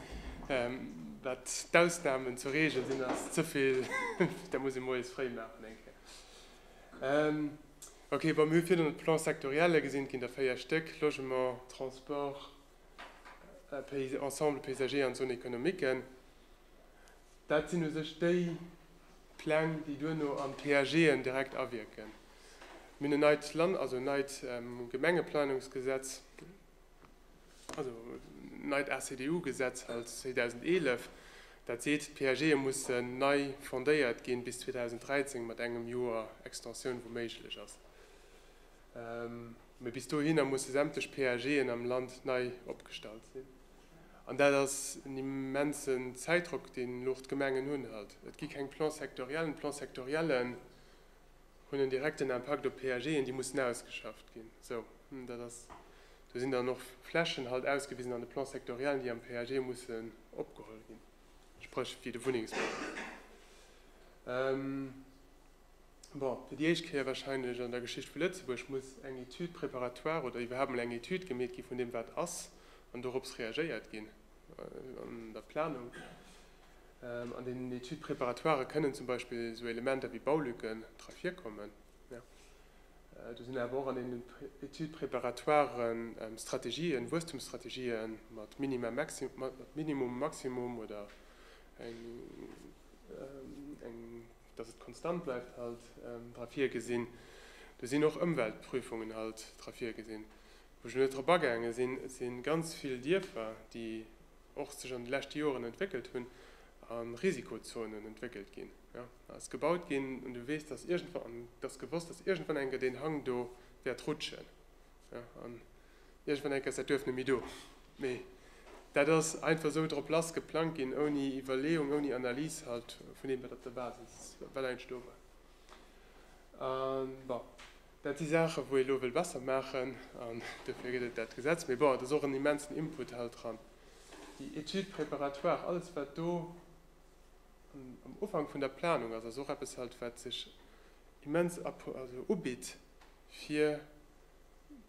dat d'Ausnahmen zur Regel sinn, ass ze vill, dat muss ee moies fréi maachen eng Kéier. Ok, bon, mir hu virduerno d'Plan-sectorielle gesinn, et ginn der véier Stéck, Logement, Transport, Ensemble paysager an Zone économique. Dat sinn u sech déi Pläng, déi duerno an d'PAGen direkt awierken. Mir hunn en neit Land-, also en neit Gemengeplanungsgesetz, also en neit ACDU-Gesetz halt, 2011, dat seet, d'PAGe mussen nei fondéiert ginn bis 2013, mat engem Joer Extensioun, wou méiglech ass. Mee bis dohinner musse sämtlech PAGen am Land nei opgestallt sinn. An dat ass en immensen Zäitdrock, deen elo och d'Gemengen hunn halt. Et gi keng Plans sectoriellen. D'Plans sectoriellen, hunn en direkten Impakt op d'PAGen, déi mussen ausgeschafft ginn. Esou, dat ass, do sinn dann och Flächen halt ausgewisen an de Plan-sectoriellen, déi am PAG mussen opgeholl ginn, spréch wéi de Wunnengsbau. Bon, fir déi éischt Kéier wahrscheinlech an der Geschicht vu Lëtzebuerg muss eng Étude préparatoire oder iwwerhaapt mol eng Étude gemeet gi vun deem, wat ass, an dorops reagéiert ginn an der Planung. An den Études préparatoires kënnen zum Beispill esou Elementer wéi Baulücken dra virkommen. Do sinn awer och an den Études préparatoires Strategien, Wuesstumsstrategien mat Minimum, Maximum oder datt et konstant bleift halt dra virgesinn. Do sinn och Ëmweltprüfungen halt dra virgesinn. Wou ech elo net drop agaange sinn, et si ganz vill Dierfer, déi, och sech an de leschte Joren entwéckelt hunn, a Risikozonen entwéckelt ginn. Jo, et ass gebaut ginn un de Weess, dass iergendwa, an et ass gewosst, dass iergendwann enke deen Hang do wäert rutschen, jo, an iergendwann enke ass dat Duerf net méi do. Mee dat ass einfach esou drop lass geplangt ginn, ouni Iwwerleeung, ouni Analys halt vun deem, wat op der Basis, wat eigentlech do war. An bon, Dat si Saachen, wou ee elo wëll besser maachen, an dofir gëtt et dat Gesetz. Mee bon, et ass och en immensen Input hei dran, déi Étude préparatoire, alles wat do am Ufank vun der Planung ass, ass och eppes hei, wat sech immens ubitt, fir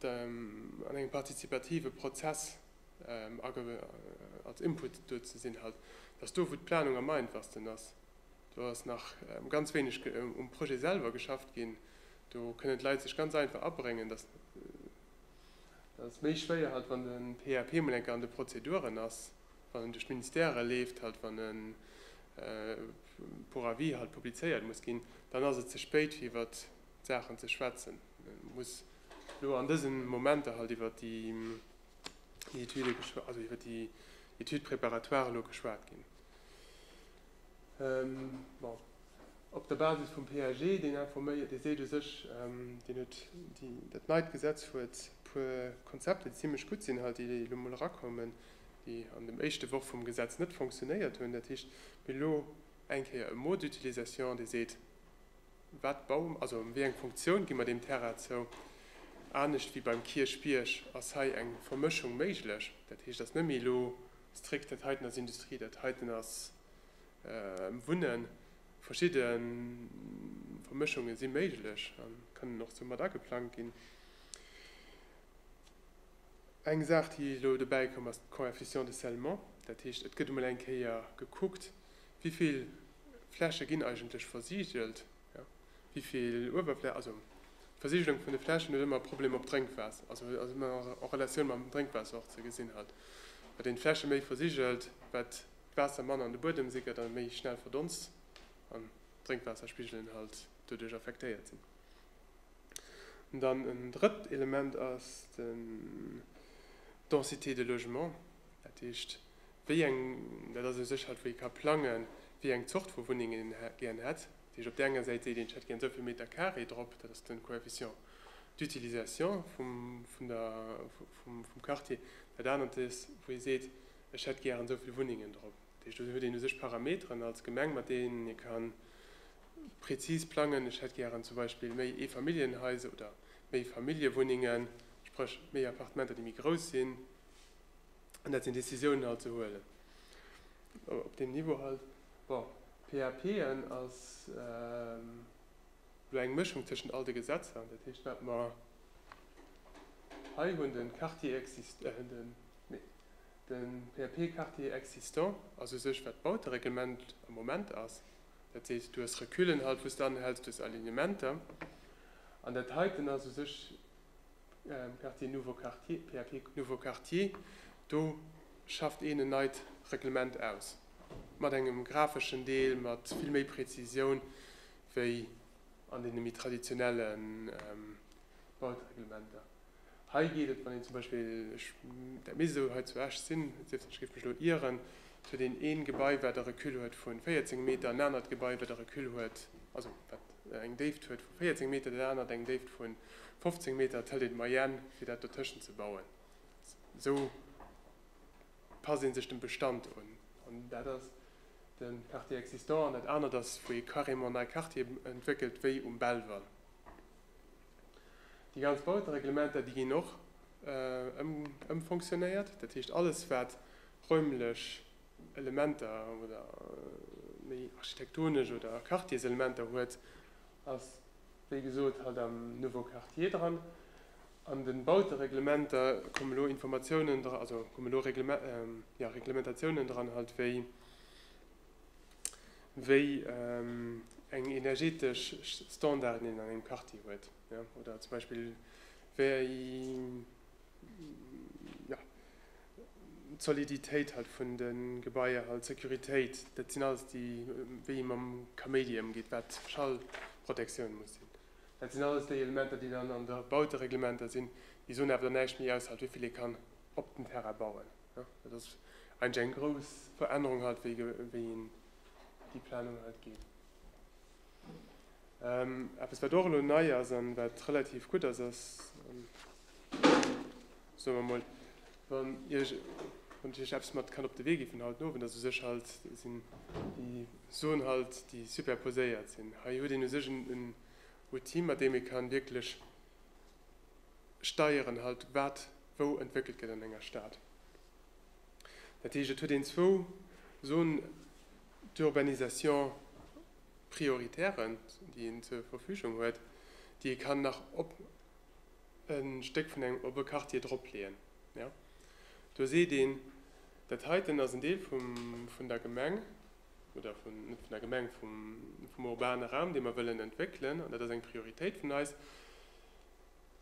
an engem partizipative Prozess als Input do ze sinn, dass do, wou d'Planung am einfachsten ass, Do ass nach ganz wéineg um Projet selwer geschafft ginn. Do kënnen d'Leit sech ganz einfach abréngen. Dat ass méi schwéier, halt wann de PAP emol eng Kéier an de Prozeduren ass, wann en duerch d'Ministèrë leeft, halt wann e pour avis halt publizéiert muss ginn. Dann ass et ze spéit fir iwwer d'Saachen ze schwätzen. Et muss elo an dëse Momenter halt iwwer déi Etüde, also iwwer déi Étude préparatoire elo geschwat ginn. Bon, op der Basis vum PAG, deen informéiert, dee seet u sech, deen huet déi, dat neit Gesetz huet e puer Konzepter, déi zimlech gutt sinn hei, déi elo mol erakoumen, déi an dem éischte Worf vum Gesetz net fonctionnéiert hunn. Dat heescht, mir hunn elo eng Kéier e Mot d'utilisation, dee seet, wat baue mer, also wéi eng Funktioun gi mer deem Terrain zou. Anescht wéi beim Kierchbierg ass hei eng Vermëschung méiglech. Dat heescht, et ass net méi elo Strikt, dat heiten ass Industrie, dat heiten ass Wunnen. Verschidde Vermëschunge si méiglech a kënnen och esou mat ageplangt ginn. Eng Saach, déi elo dobäi komm ass, d'Coefficient de scellement. Dat heescht, et gëtt emol eng Kéier gekuckt, wéi vill Fläche ginn eigentlech versigelt. Wivill Uewerfläch, also d'Versigelung vun de Flächen huet ëmmer e Problem op d'Drénkwaasser, also ass ëmmer en Relatioun mam Drénkwaasser och ze gesinn hat, wat een d'Fläche méi versigelt, wat d'Waasser manner an de Buedem sickert a méi schnell verdonst an d'Drénkwaasserspigelen halt doduerch affektéiert sinn. An dann en drëtt Element ass d'Densité de logement, dat heescht, wéi eng, dat ass eng Sécherheet, wou ee ka plangen, wéi eng Zort vu Wunnengen een gären hätt. Dat heescht, op där enger Säit seet een, ech hätt gären esou vill Meter Carré drop, dat ass de Coefficient d'utilisation vum Quartier. Dat anert ass, wou ee seet, ech hätt gären esou vill Wunnengen drop. Dat heescht, do huet een u sech Parameteren als Gemeng, mat deenen ee ka prezis plangen, ech hätt gären zum Beispill méi Eefamilljenhaiser oder méi Familljewunnengen, spréch méi Appartementer, déi méi grouss sinn. An dat sinn Décisiounen alt ze huelen op deem Niveau halt. Bon, PAP en ass elo eng Mëschung tëschent all de Gesetzer. An dat heescht, wat mer hei hunn, de Quartier exist, nee, de PAP Quartier existant ass u sech, wat d'Bautereglement am Moment ass, dat sees, du hues Reculen halt, wou s de anhäls, du hues Alignementer. An dat heiten ass u sech. PRT nouveau quartier, PAP nouveau quartier, do schafft een en neit Reglement aus, mat engem grafeschen Deel, mat vill méi Prezisioun wéi an deene méi traditionelle Bautereglementer. Hei geet et, wann een zum Beispill, ech, dat misst esou hei zu Esch sinn, et sief denn, ech géif mech elo ieren, et huet een ee Gebai, wat e Recul huet vu 14 Meter, en anert Gebai, wat e Recul huet, also wat, eng Déift huet vu 14 Meter, dat anert eng Déift vu 15 Meter, et hëlt een d'Moyenne fir dat dotëschent ze bauen. Esou passt ee sech dem Bestand un. An dat ass de Quartier existant an dat anert ass, wou ee carrément nei Quartiere entwéckelt, wéi um Belval. Déi ganz Bautereglementer, déi ginn och ëmfonctionnéiert, dat heescht alles wat räumlech, Elementer oder méi architektonesch oder Quartierselementer huet, ass wéi gesot halt am Nouveau Quartier dran. An de Bautereglementer kommen elo Informatiounen, also kommen elo Reglementatiounen dran halt wéi wéi eng energetesch Standarden een an engem Quartier huet oder zum Beispill wéi d'Soliditéit halt vun de Gebaier halt, d'Securitéit, dat sinn alles déi, wéi ee mam Kaméidi ëmgeet, wat Schallprotektioun muss sinn, dat sinn alles déi Elementer, déi dann an de Bautereglementer sinn. Déi soen awer dann näischt méi aus, halt wéi vill ee kann op den Terrain bauen. Dat ass eigentlech eng grouss Verännerung halt, wéi een déi Planung halt geet. Eppes wat och elo nei ass an wat relativ gutt ass, ass, soe mer emol, wann Iech eppes mat kann op de Wee gi vun haut Owend, also u sech halt sinn déi Suen halt, déi superposéiert sinn. Hei huet een u sech en Outil, mat deem ee ka wierklech steieren halt, wat wou entwéckelt gëtt an enger Stad. Dat heescht, et huet een zwou Zones d'urbanisation prioritären, déi een zur Verfügung huet, déi ee kann nach e Stéck vun engem Ope Quartier drop leeën. Jo, do seet een, dat heiten ass en Deel vun der Gemeng, oder net vun der Gemeng, vum urbane Raum, dee mer wëllen entwéckelen, an dat ass eng Prioritéit vun eis,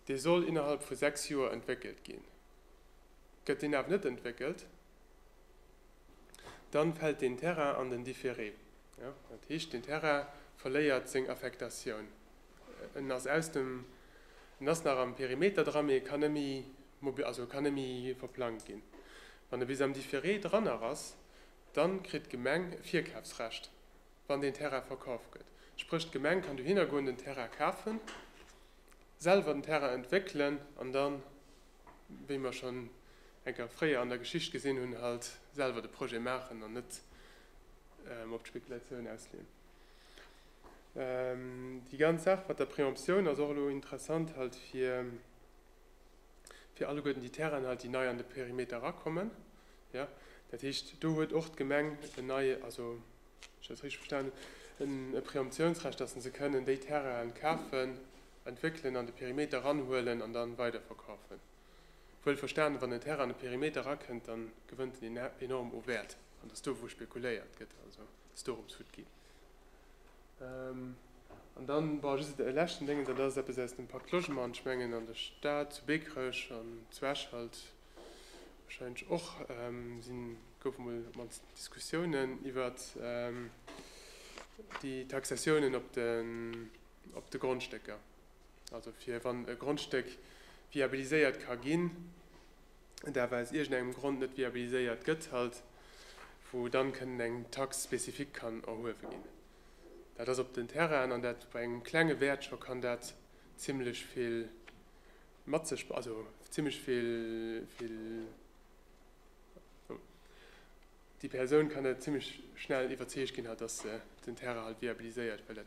dee soll innerhalb vu sechs Joer entwéckelt ginn. Gëtt deen awer net entwéckelt, da fält deen Terrain an den Différé. Dat heescht, deen Terrain verléiert seng Affektatioun. En ass aus dem, en ass nach am Perimeter dran, mee e kann net méi mobi-, also e kann net méi verplangt ginn. Wann e bis am Différé dran nach ass, dann kritt d'Gemeng e Virkafsrecht, wann deen Terrain verkaf gëtt. Spréch d'Gemeng kann dohinner goen, den Terrain kafen, selwer den Terrain entwéckelen an dann, wéi mer schonn eng Kéier fréier an der Geschicht gesinn hunn, halt selwer de Projet maachen an net op d'Spekulatioun ausleeën. Déi ganz Saach mat der Préemption ass och elo interessant halt fir, fir alleguerten déi Terrainen halt, déi nei an de Perimeter erakommen. Ja, dat heescht, do huet och d'Gemeng en nei, also wann ech dat richteg verstanen hunn, e Préemptionsrecht, dass se se kënnen, déi Terrainen kafen, entwéckelen, an de Perimeter eranhuelen an dann weiderverkafen. Wuel verstanen, wann en Terrain an de Perimeter erakënnt, dann gewënnt en enorm u Wäert an dass do, wou spekuléiert gëtt. Also. Ass dorëms fut gin. An dann, bon, just e leschten Déngen, dat ass eppes aus dem Pacte Logement. Ech mengen, an der Stad, zu Bekerech an zu Esch halt wahrscheinlech och, si goufe mol op d'mannst Diskussiounen iwwert déi Taxatiounen op de, op de Grondstécker. Also fir, wann e Grondstéck viabiliséiert ka ginn, et awer aus iergend engem Grond net viabiliséiert gëtt, halt wou dann kënnen eng Taxe spécifique kann erhuewe ginn. Dat ass op den Terrainen, an dat bei engem klenge Wäert scho, kann dat zimlech vill mat sech, also zimlech vill, vill, déi Persoun kann dat zimlech schnell iwwerzeegt ginn, halt dass se den Terrain halt viabiliséiert, well dat,